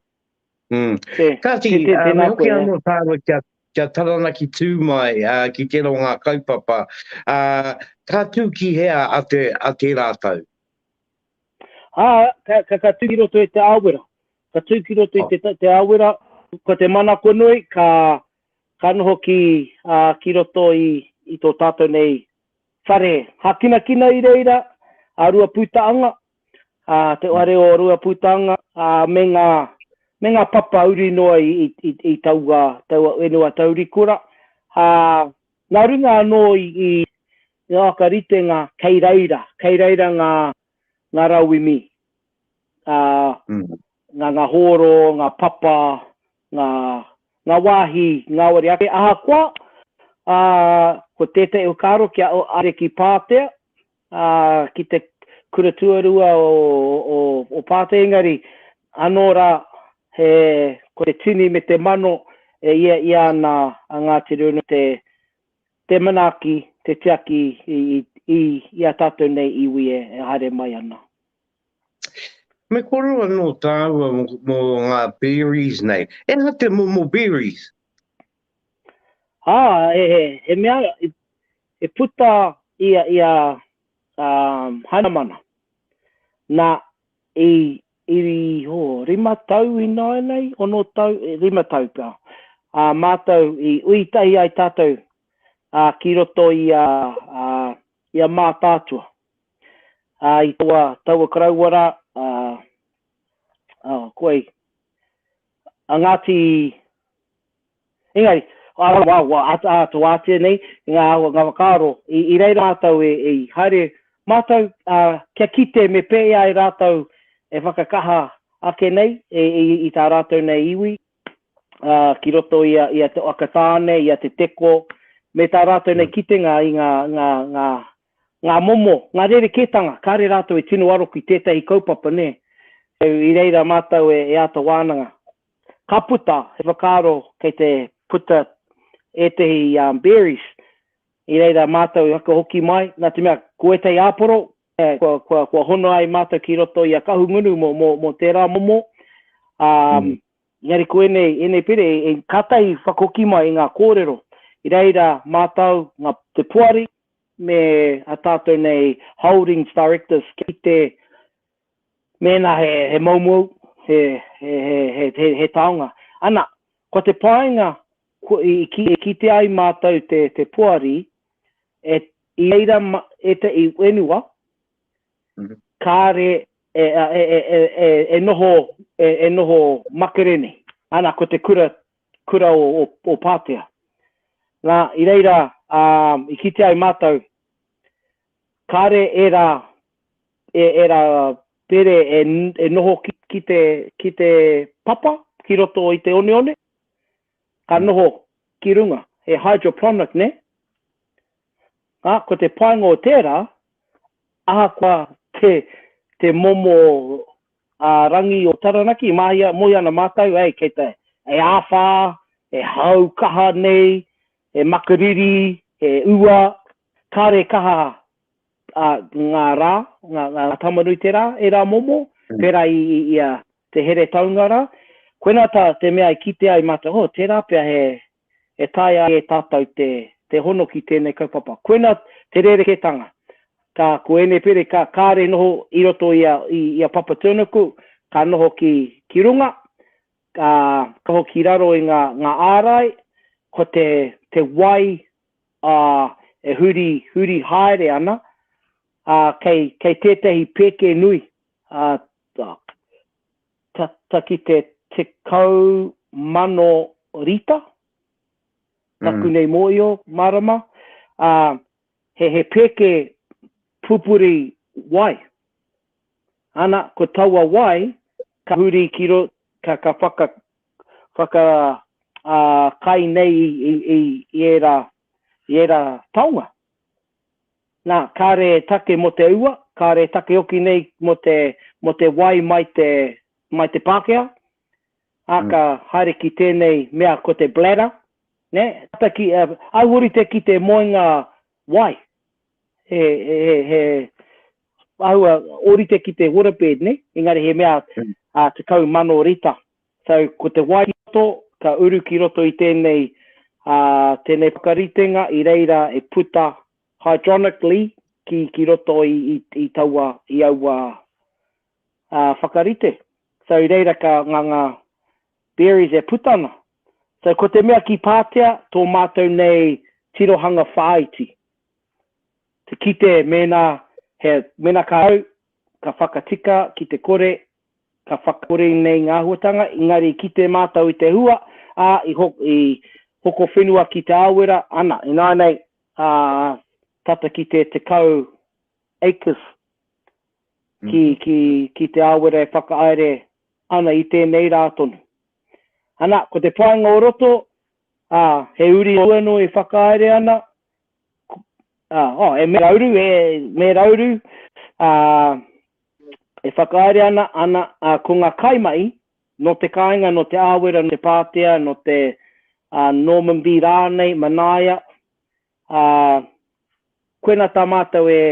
Speaker 1: Mm. Kāti, me hoki anō tāua kia, kia Taranaki tū mai, ā, ki tērā o ngā kaupapa, ā, ka tū ki hea a te, a tērā tau? Ā,
Speaker 2: ka, ka, ka tū ki roto i te āwera. Ka tū ki roto i te, te āwera, ko te mana konoi, ka, ka noho ki, ā, ki roto i, i tō tātou nei whare hākinakina i reira, a Ruapūtaanga, ā, te whare o Ruapūtaanga, ā, me ngā, me ngā papa uri noa i, i, i, i taua, taua whenua taurikura. Ā, nā runga anō i, i, i Ākaritenga, kei reira, kei reira ngā, ngā rauemi, ā, ngā, ngā hōro, ngā papa, ngā, ngā wāhi ngāwari ake, ahakoa, ā, ko tētahi whakaaro kia ariki Pātea, ā, ki te Kura Tuarua o, o, o Pātea, engari, anō rā, he, ko te tini me te mano e ia ia ana a Ngāti Rūnui te, te manaaki, te tiaki i, i, i, i a tātou nei iwi e, e haere mai ana. Me
Speaker 1: koro anō tāua mō ngā berries nei. E aha te momo berries? Ā,
Speaker 2: he, he, he mea i, i puta i a, i a um, Hainamana. Nā, i, i ho, rima tau i nāinei, ono tau, e, rima tau pea. Ā, mātou i ui tahi ai tātou ā, ki roto i a, a, i a Mātaatua. Ā, i taua, taua karaua rā, ā, ā, koe, a Ngāti, engari, ā, wā, wā, ā, ā, tō ātea nei, ngā, ngā whakaaro, i, i reira mātou e, e, haere mātou, ā, kia kite me pēhea e rātou e whakakaha ake nei, e, i, i tā rātou nei iwi, ā, ki roto i a, i a Te Whakatāne, i a Te Teko, me tā rātou nei kitenga i ngā, ngā, ngā, ngā momo, ngā rerekētanga, kāre rātou e tino aro ki tētahi kaupapa, nē. I reira mātou e āta wānanga. Ka puta, he whakaaro kei te puta ētahi berries, i reira mātou i whakahoki mai, nā te mea, ko ētahi āporo, kua hono ai mātou ki roto i a Kahungunu mō tērā momo, ā, engari ko ēnei pire, kātahi whakahoki mai i ngā kōrero. I reira mātou, te poari, me a tātou nei Holdings Directors kia kite mēnā he moumou, he taonga. Ana, ko te painga i kite ai mātou te poari, i reira ētahi whenua kāre e noho makere nei. Ana, ko te kura kura o, o, o Pātea. Nā, i reira, ā, i kite ai mātou, kāre ērā, e, ērā pere e, e noho ki, ki, te, ki te papa, ki roto i te oneone, ka mm. noho ki runga, he hydroponic, ne? Ā, ko te painga o tērā, ahakoa te, te momo a Rangi o Taranaki i mahia moe ana matou ei kei te e awha, e hau kaha nei, he makariri, he ua, kare kaha a nga ra, nga tamarui te ra, e ra momo, pera i ia te here taunga ra, koina ta te mea i kite ai matou, oh tera pea he e taea e tātou te, te hono ki tēnei kaupapa. Koina te rerekētanga. Ka, ko ēnei pēre, ka, kāre noho i roto i a, i, i a Papa Turnouku, ka noho ki, ki runga, ka, ka noho ki raro i ngā, ngā ārai, ko te, te wai, ā, e huri, huri haere ana, ā, kei, kei tētahi pēke nui, ā, tata ki te tekau mano rita, taku nei mōio, marama, ā, he, he pēke pupuri wai. Ana, ko taua wai, ka huri ki ro, ka, ka whaka, whaka, ā, kai nei i, i, i, i ērā, i ērā taonga. Nā, kāre e take mō te ua, kāre e take hoki nei mō te, mō te wai mai te, mai te Pākehā, ā, ka haere ki tēnei mea ko te bladder, nē, tata ki, au orite ki te moenga wai, he, he, he, he, āhua orite ki te waterbed, nē, engari he mea, ā, tekau mano rita. So, ko te Waikato ka uru ki roto i tēnei, tēnei whakaritenga i reira e puta hydronically ki, ki roto i, i, i taua, i aua whakarite. So, i reira ka nga, nga berries e puta ana. So, ko te mea ki Pātea, tō mātou nei tirohanga whāiti, te kite mēnā he, mēnā ka au, ka whakatika ki te kore Ka whakakore nei ngā āhuatanga, engari i kite mātou i te hua, ā, i hoko whenua ki Te Aowera, ana, ināianei, ā, tata ki te 10 acres ki Te Aowera e whakahaere ana i tēnei rā tonu. Ana, ko te painga o roto, ā, he uri hou anō e whakahaere ana, ā, oh, e Mērauru, e Mērauru, ā, E whakahaere ana ana, ā, ko ngā kaimahi, nō te kāinga, nō Te Āwera, nō Te Pātea, nō te, ā, Norman B. rānei, Manaia, ā, koinā tā mātou e,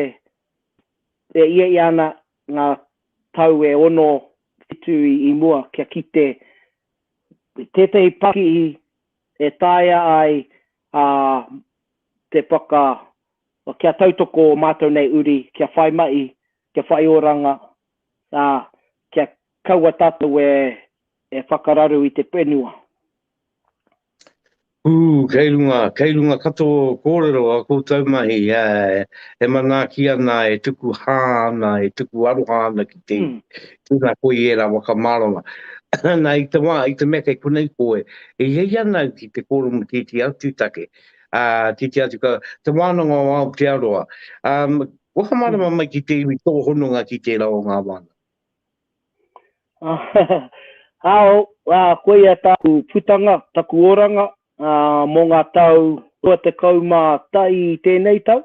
Speaker 2: e iaia ana ngā tau e ono, whitu i, i mua kia kite tētahi pakihi e taea ai, ā, te whaka, kia tautoko ō mātou nei uri, kia whai mahi, kia whai oranga, ā, kia kaua tātou e whakararu i te whenua.
Speaker 1: Ū, kei runga, kei runga katoa ō kōrero, ā koutou mahi, ā, e manaaki ana, e tuku hā ana, e tuku aroha ana ki te iwi, tēnā koe i ērā whakamārama. Nā, i te wā, i te mea kei konei koe, e hiahia ana au ki te kōrero tētehi atu take, ā, tētehi atu, te wānanga o Aotearoa. Whakamārama mai ki te iwi tō hononga ki tērā o ngā wānanga.
Speaker 2: Hao, ā, koia tāku putanga, taku oranga, ā, mō ngā tau 21 i tēnei tau,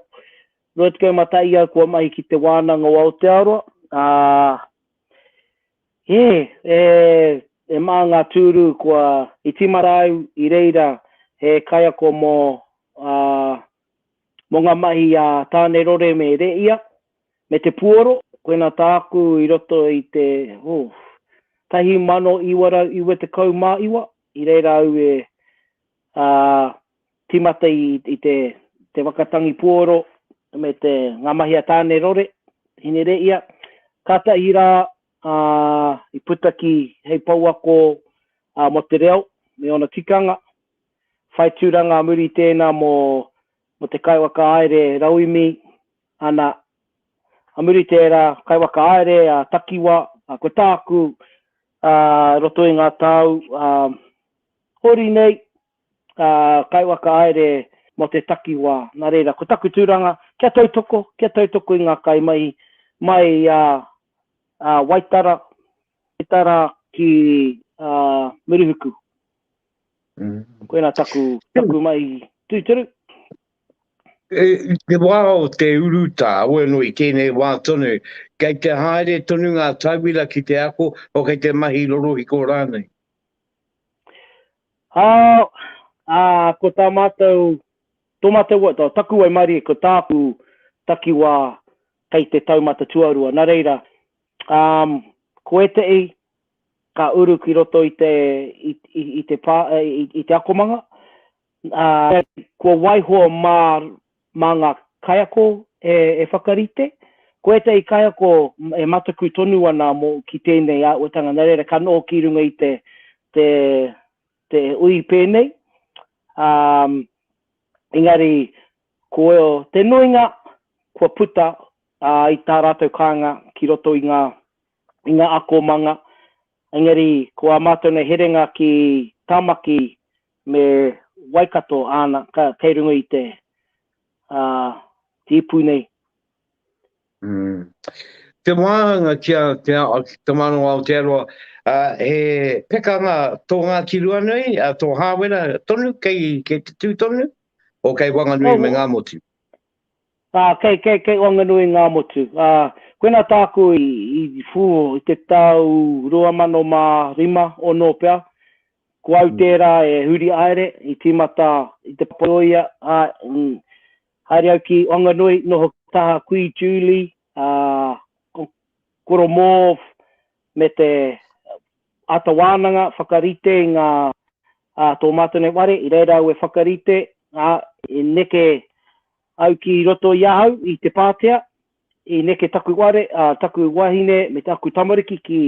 Speaker 2: 21 au kua mahi ki te Wānanga o Aotearoa, ā, hē, e, e mā ngā tūru kua, i tīmata au i reira he kaiako mō, ā, Mō ngā mahi a Tāne Rore me Reia, me te puoro, koina tāku i roto i te, oh, 1999, i reira au e uh, timata i, i te, te wakatangi puoro me te, ngā mahi a Tāne Rore, Hine Reia, kātahi rā uh, i puta ki hei pouako uh, mō te reo me ōna tikanga, Whai tūranga muri tēnā mō te kaiwakahaere rauemi, ana, a muri tērā, kaiwakahaere a takiwa, ko tāku ā roto i ngā tau ā hori nei, ā, kaiwakahaere mō te takiwā. Nā reira, ko taku tūranga, kia tautoko, kia tautoko i ngā kaimahi mai i a Waitara, Waitara ki Murihuku. Koina taku, taku mai tuiteru. E,
Speaker 1: te wā o te urutā, wēno i tēnei wā tonu, kei te haere tonu ngā tauira ki te ako, o kei te mahi rorohiko rānei? Ā,
Speaker 2: ā, ko tā mātou, tō mātou, tō taku waimarie, ko tāku takiwā kei te taumata tuarua, nā reira, um, ko ētehi, ka uru ki roto i te, i, i, i te, pā, i, i te akomanga. Ā, kua waiho mā, mā ngā kaiako e, e whakarite. Ko ētahi kaiako e mataku tonu ana mō, ki tēnei āhuatanga, nā reira ka noho ki runga i te, te, te ui pēnei. Ā, engari, ko te nuinga, kua puta, ā, i tā rātou kāinga ki roto i ngā, i ngā akomanga, engari ko ā mātou nei herenga ki Tāmaki me Waikato āna kei runga i te ipu nei.
Speaker 1: Te wāhanga ki a Te Manawa Aotearoa, he pekanga tō Ngāti Ruanui, tō Hāwera tonu kei te tū tonu, o kei Wanganui me Ngāmotu? Ā, kei,
Speaker 2: kei, kei Wanganui ngā motu. Ā, koinā tāku i, i, whū, i te tau rua mano mā rima, ono pea, ko au tērā e huri haere, i tīmata i te Papaioia, ā, mm, haere au ki Wanganui, noho ki taha Kui Julie, ā, ko, koro mōv, me te ata wānanga whakarite i ngā, ā, tō mātou nei ware, i reira au e whakarite, ā, i neke, Au ki roto i ahau, i Te Pātea, i neke taku whare, ā, taku wahine me taku tamariki ki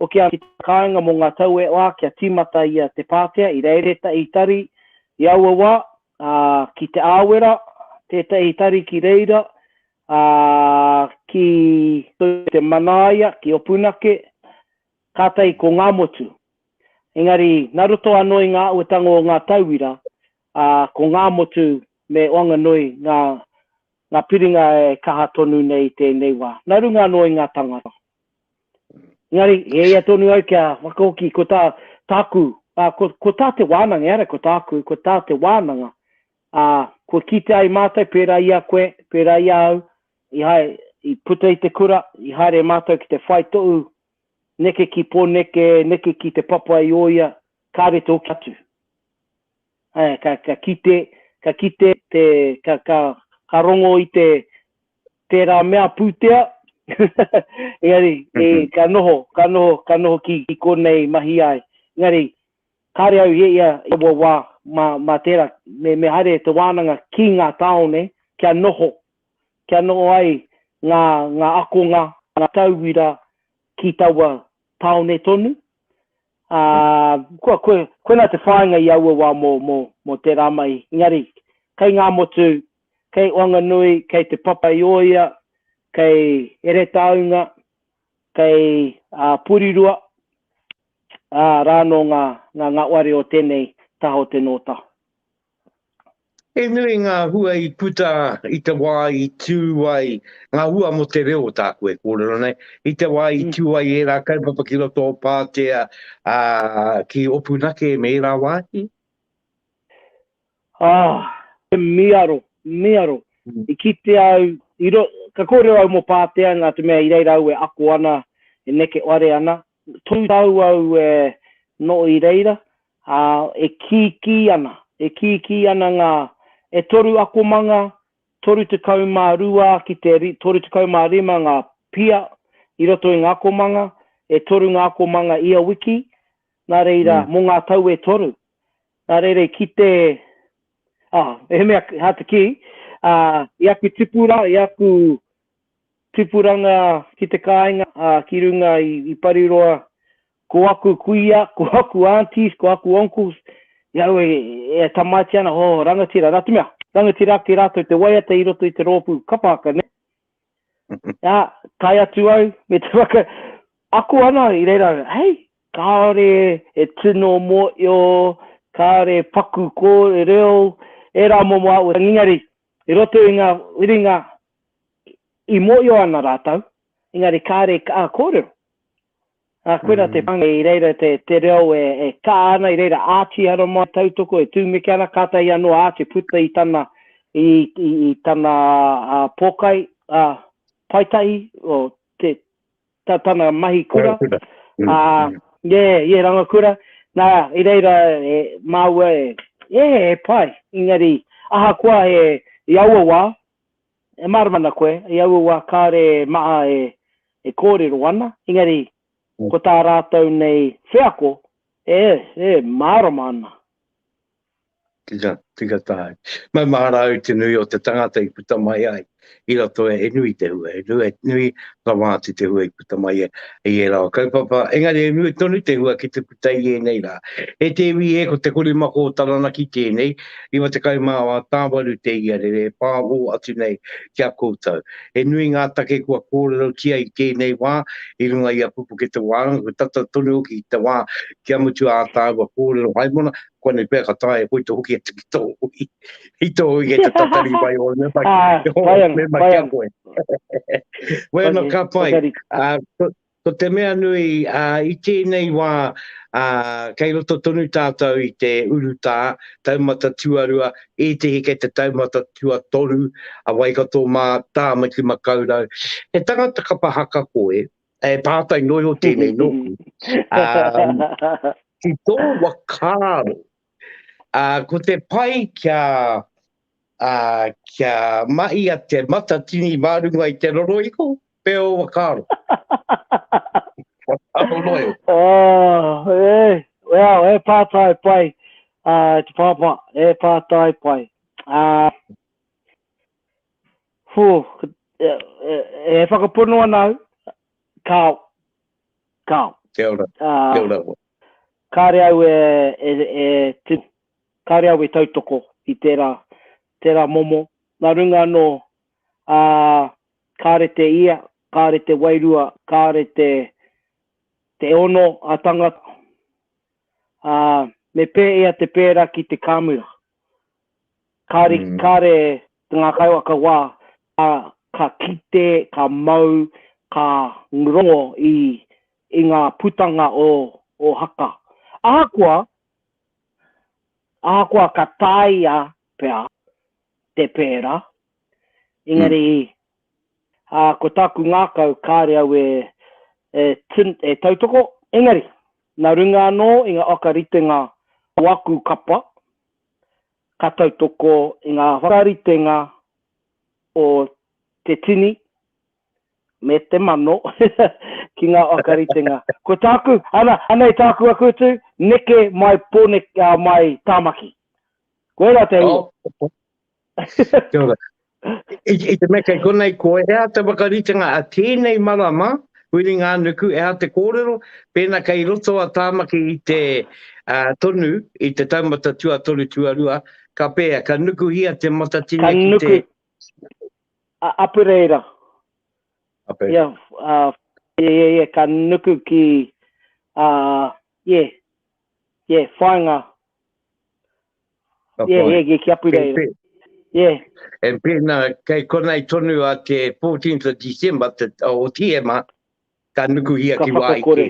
Speaker 2: Hokianga ki te kāinga mō ngā tau e whā kia tīmata i a Te Pātea i reira ētahi tari i aua wā, ā, ki Te Āwera, tētahi tari ki reira, ā, ki Te Manaia, ki Opunake, kātahi ko Ngāmotu. Engari, nā roto anō i ngā āhuatanga o ngā tauira, ā, ko Ngāmotu me Oanganui ngā ngā piringa e kaha tonu nei i tēnei wā, nā runga anō i ngā tāngata. Engari, e ia tonu au kia whakahoki, ko tā, tāku, ā, ko, ko tā te wānanga, ehara ko tāku, ko tā te wānanga, ā, kua kitea ai mātou, pērā i a koe, pērā i a au, i hae, i puta i te kura, i haere mātou ki te whai tohu, neke ki Pōneke, neke ki Te Papa i ō ia, kāre te hoki atu. Ae, ka, ka kite, ka kite te, ka, ka, ka rongo i te, tērā mea pūtea, engari, e, ka noho, ka noho, ka noho ki, ki konei mahi ai. Engari, kāre au i e ia i aua wā, mā, mā tērā, me, me haere e te wānanga ki ngā tāone, kia noho, kia noho ai ngā, ngā akonga, ngā tauira ki taua tāone tonu, Ā, kua koe, koinā te whāinga i aua wā mō, mō, mō tērā mahi. Engari, kei Ngāmotu, kei Wanganui, kei Te Papa i Ōia, kei Heretaunga, kei, ā, Porirua, ā, rānō ngā, ngā, ngā ware o tēnei taha o te Nōtā.
Speaker 1: He nui ngā hua i puta i te wā i tū ai, ngā hua mō te reo tāku e kōrero nei, i te wā i tū ai ērā kaupapa ki roto o Pātea, ā, ki Opunake me ērā wāhi? Ā,
Speaker 2: he miaro, miaro. I kite au, i ro, ka kōrero au mō Pātea, nā te mea i reira au e ako ana, e neke ware ana, tū tau au e noho i reira, Ā, e kīkī ana, e kīkī ana ngā, e toru akomanga, toru tekau mā rua ki te toru tekau mā rima ngā pia i roto i ngā akomanga, e toru ngā akomanga ia wiki, nā reira, mō ngā tau e toru. Nā reira i kite, ā, mehemea hā te kī, ā, i aku tipura, i aku tipuranga ki te kāinga, ā, ki runga i Pariroa, Ko aku kuia, ko aku aunties, ko aku uncles, i aro e, e tamaiti ana, ho, oh, rangatira, nā te mea, rangatira ake rātou te waiata i roto i te rōpū kapa haka, ne? Nā, tae atu au, me te waka, ako ana i reira, hei, kāore e tino mō io, kāore e paku kō e reo, e rā momo au ngingari, i roto i ngā whiringa i mō io ana rātou, engari kāore ka kōrero. Ā, koirā te pānga i reira te, te reo e, e kā ana, i reira ātihara mai, tautoko, e tūmeke ana, kātahi anō ā te puta i tana, i, i, i tana ā, pōkai, ā, paetahi, o te, ta, tana mahi kura. Rangakura. Mm. Ā, nē, ia rangakura. Nā, i reira e, māua e, ē, e pai, engari, ahakoa e, i aua wā, E mārama ana koe, i aua wā kāore e maha e kōrero ana, engari ko tā rātou nei wheako e mārama ana. Tika,
Speaker 1: tika tahi. Maumahara au te nui o te tangata i puta mai ai i roto e nui te hua, e nui, nui, whakamāti te hua i. puta mai i ērā o kaupapa, engari e nui tonu te hua ki te puta i ēnei rā. E te iwi e, ko Te Korimako o Taranaki tēnei, 94 te iarere e pāho atu nei ki a koutou. He nui ngā take kua kōrerotia i tēnei wā, i runga i a Pupukete Wānanga, kua tata tonu hoki ki te wā kia mutu ā tāua kōrero haimona, Koinei pea ka taea e koe te hoki atu ki tō hui. I tō hui kei te tatari mai ō mema, ō mema ki a koe. Wai anō, ka pai. Ko te mea nui, i tēnei wā, kei roto tonu tātou i te urutā, taumata tuarua, ētehi kei te taumata tuatoru, a Waikato mā, Tāmaki Makaurau. He tangata kapa haka koe, E pātai noi o tēnei nōku. Um, ki tō wakāro, uh, ko te pai kia, uh, kia mahi a te matatini mārunga i te roroiko, pe o wakāro. Ano noi. Oh, e,
Speaker 2: well, e pātai pai, uh, te pāpā, e pātai pai. Uh, Hū, e, e, e whakapono ana au, kāo, kāo. Kia
Speaker 1: ora, uh, kia ora. Kāre
Speaker 2: au e, e, e, te, kāre au e tautoko i tērā, tērā momo. Nā runga anō, uh, kāre te ia, kāre te wairua, kāre te, te ono a tangata. Uh, me pēia te pēra ki te kāmura. Kāre ki kāre te ngā kaiwa ka wā, ā, ka kite, ka mau, ka rongo i, i ngā putanga o, o Haka. Ahakoa, ahakoa ka tāia pea te pērā, engari Ā, ko tāku ngākau kāore au e, e tun, e tautoko, engari, nā runga anō i ngā whakaritenga o aku kapa, ka tautoko i ngā whakaritenga o te tini me te mano ki ngā whakaritenga. Ko tāku, ana, anei tāku aku utu, neke mai Pōneke, ā, mai Tāmaki. Koirā te hua. Oh.
Speaker 1: Kia ora. I, i te meke konei, ko ea te whakaritenga a tēnei marama, Whiringa-ā-nuku, ea te kōrero, pēna kei roto a Tāmaki i te uh, tonu, i te taumata tuatoru tuarua, ka pēa, ka nukuhia te matatini ki nuku. te...
Speaker 2: A, apereira. Ape.
Speaker 1: Ia, uh,
Speaker 2: ia, ia, ia, ka nuku ki, uh, ia, ia, whainga, Ka yeah, yeah, yeah, kia pira e. Yeah.
Speaker 1: E pēnā, kei konei tonu a te 14th of December, te, o Tiema, ka nukuhia ka ki wāi kē.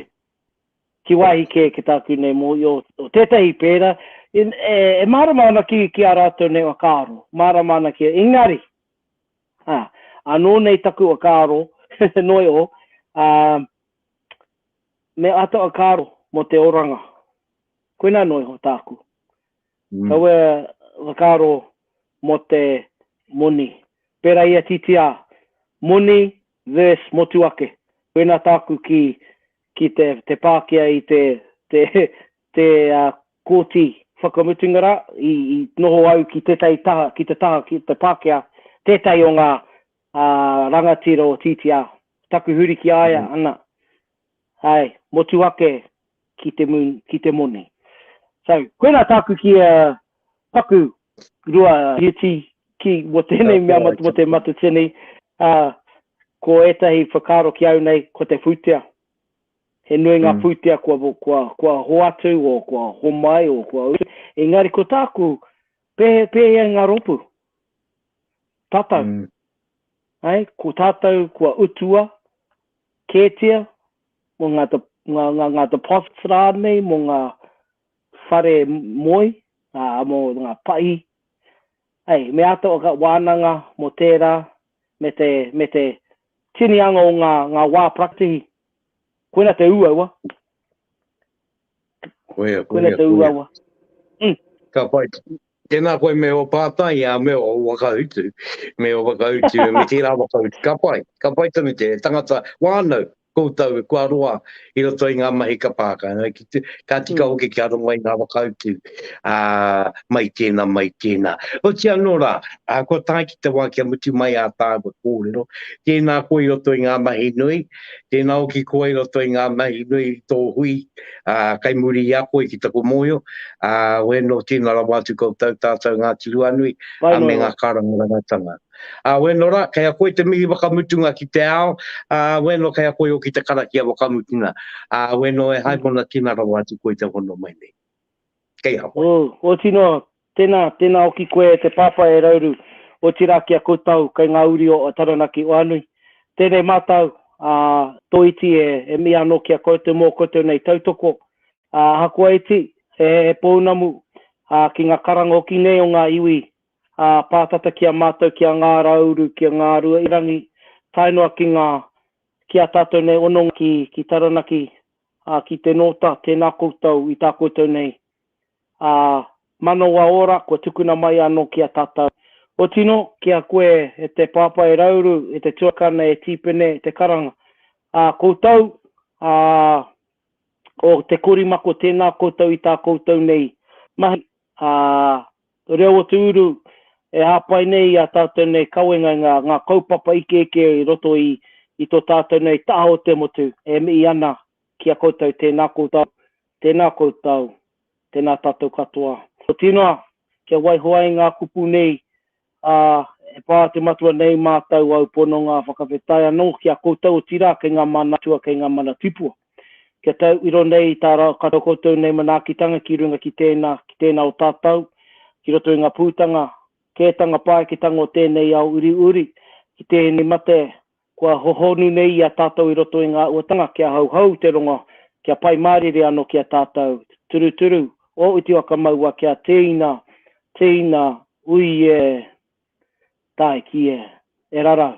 Speaker 1: Ki
Speaker 2: wāi kē, ki tāku nei mō i o, o tētahi pēra, e, e, e mārama ana ki, ki a rātou nei wakaaro, mārama ana ki a Ingari. Ha, anō nei taku wakaaro, noi o, uh, me ata wakaaro mō te oranga. Koina anō iho tāku. Kaua whakaaro mō te moni. Pērā i a TTR, moni verse motu ake. Koina tāku ki te pākia i te Kōti Whakamutunga rā, i noho au ki tētahi taha, ki te taha, ki te pākia, tētahi o ngā rangatira o TTR. Taku huri ki a ia, ana, Ae, motu ake ki te moon, ki te moni. So, koina taku ki a paku rua hiti ki mo tenei mea mo te matatini, a, ko etahi whakaaro ki au nei, ko te putea. He nui nga mm. putea kua, kua, kua hoatu, o kua homai, o kua utu. Engari ko taku, pehe, pehe nga ropu. Tatau. Mm. Ai, ko tatau kua utua, Kētia, mō ngā, ngā, ngā, ngā deposits rānei, mō ngā whare moe, ā, mō ngā pahi. Hei, me āta wānanga mō tērā, me te, me te tinianga o ngā, ngā wā parakatihi. Koina te ūaua. Koia, koia, koia. Mm. Ka
Speaker 1: pai. Tēnā koe me o pātai, a me o wakahutu, me o wakahutu, me tērā wakahutu. Ka pai, ka pai tonu te tangata wānau, koutou, kua roa, i roto i ngā mahi ka pāka. Ka tika mm. hoki kia rongo i ngā wakahutu, a, mai tēnā, mai tēnā. O tia nō rā, a, kua tāi ki te wā kia mutu mai a tāua kōrero, tēnā koe i roto i ngā mahi nui, Tēnā hoki koe i roto i ngā mahi nui i tō hui, ā, kei muri i a koe ki taku mōhio, ā, oē nō tīna rawa atu koutou tātou Ngāti Ruanui, ā, me ngā karangarangatanga. Ā, oē nō rā, kei a koe te mihi whakamutunga ki te ao, ā, oē nō kei a koe hoki te karakia whakamutuna, ā, oē nō e haemona tīna rawa atu koe te hono mai nei. Kei a koe. Ō, ooti noa,
Speaker 2: Tēnā, tēnā hoki koe e te Pāpā e Rauru, otirā ki a koutou kei ngā uri o Taranaki o Anui. Tēnei mātau, ā, tō iti e, e mea anō ki a koutou mō koutou nei tautoko, ā, ahakoa iti, he, he pounamu, ā, ki ngā karanga hoki nei o ngā iwi, ā, pātata ki a mātau ki a Ngā Rauru, ki a Ngā Rua-i-rangi, tae noa ki ngā, ki ā tātou nei hononga ki, ki Taranaki, ā, ki te Nōta, tēnā koutou i tā koutou nei ā, manawa ora kua tukuna mai anō ki a tātou. Kua tino ki a koe e te Pāpā e Rauru, e te Tuakana, e Tīpene, e te Karanga, ā koutou, ā, o te korimako tēnā koutou i tā koutou nei mahi, ā, reo o te uru e hāpai nei i ā tātou nei kawenga i ngā, ngā kaupapa ikeike i roto i, i tō tātou nei taha o te motu e mihi ana Ki a koutou, tēnā koutou, tēnā koutou, tēnā tātou katoa. Otirā noa, kia waiho ai ngā kupu nei, ā, e pā te Matua nei mātou au pononga whakawhetai anō ki a koutou, otirā kei ngā mana atua, kei ngā mana tipua. Kia tau iro nei i tā rātou koutou nei manaakitanga ki runga ki tēnā, ki tēnā o tātou, ki roto i ngā pūtanga, kētanga, pāeketanga o tēnei ao uriuri, ki tēnei mate, Kua hohonu nei i a tātou i roto i ngā uatanga kia hauhau te rongo, kia pai mārire anō ki a tātou. Turuturu, o uti whakamaua kia tēina, tēina, ui e, tāiki e, e rarau.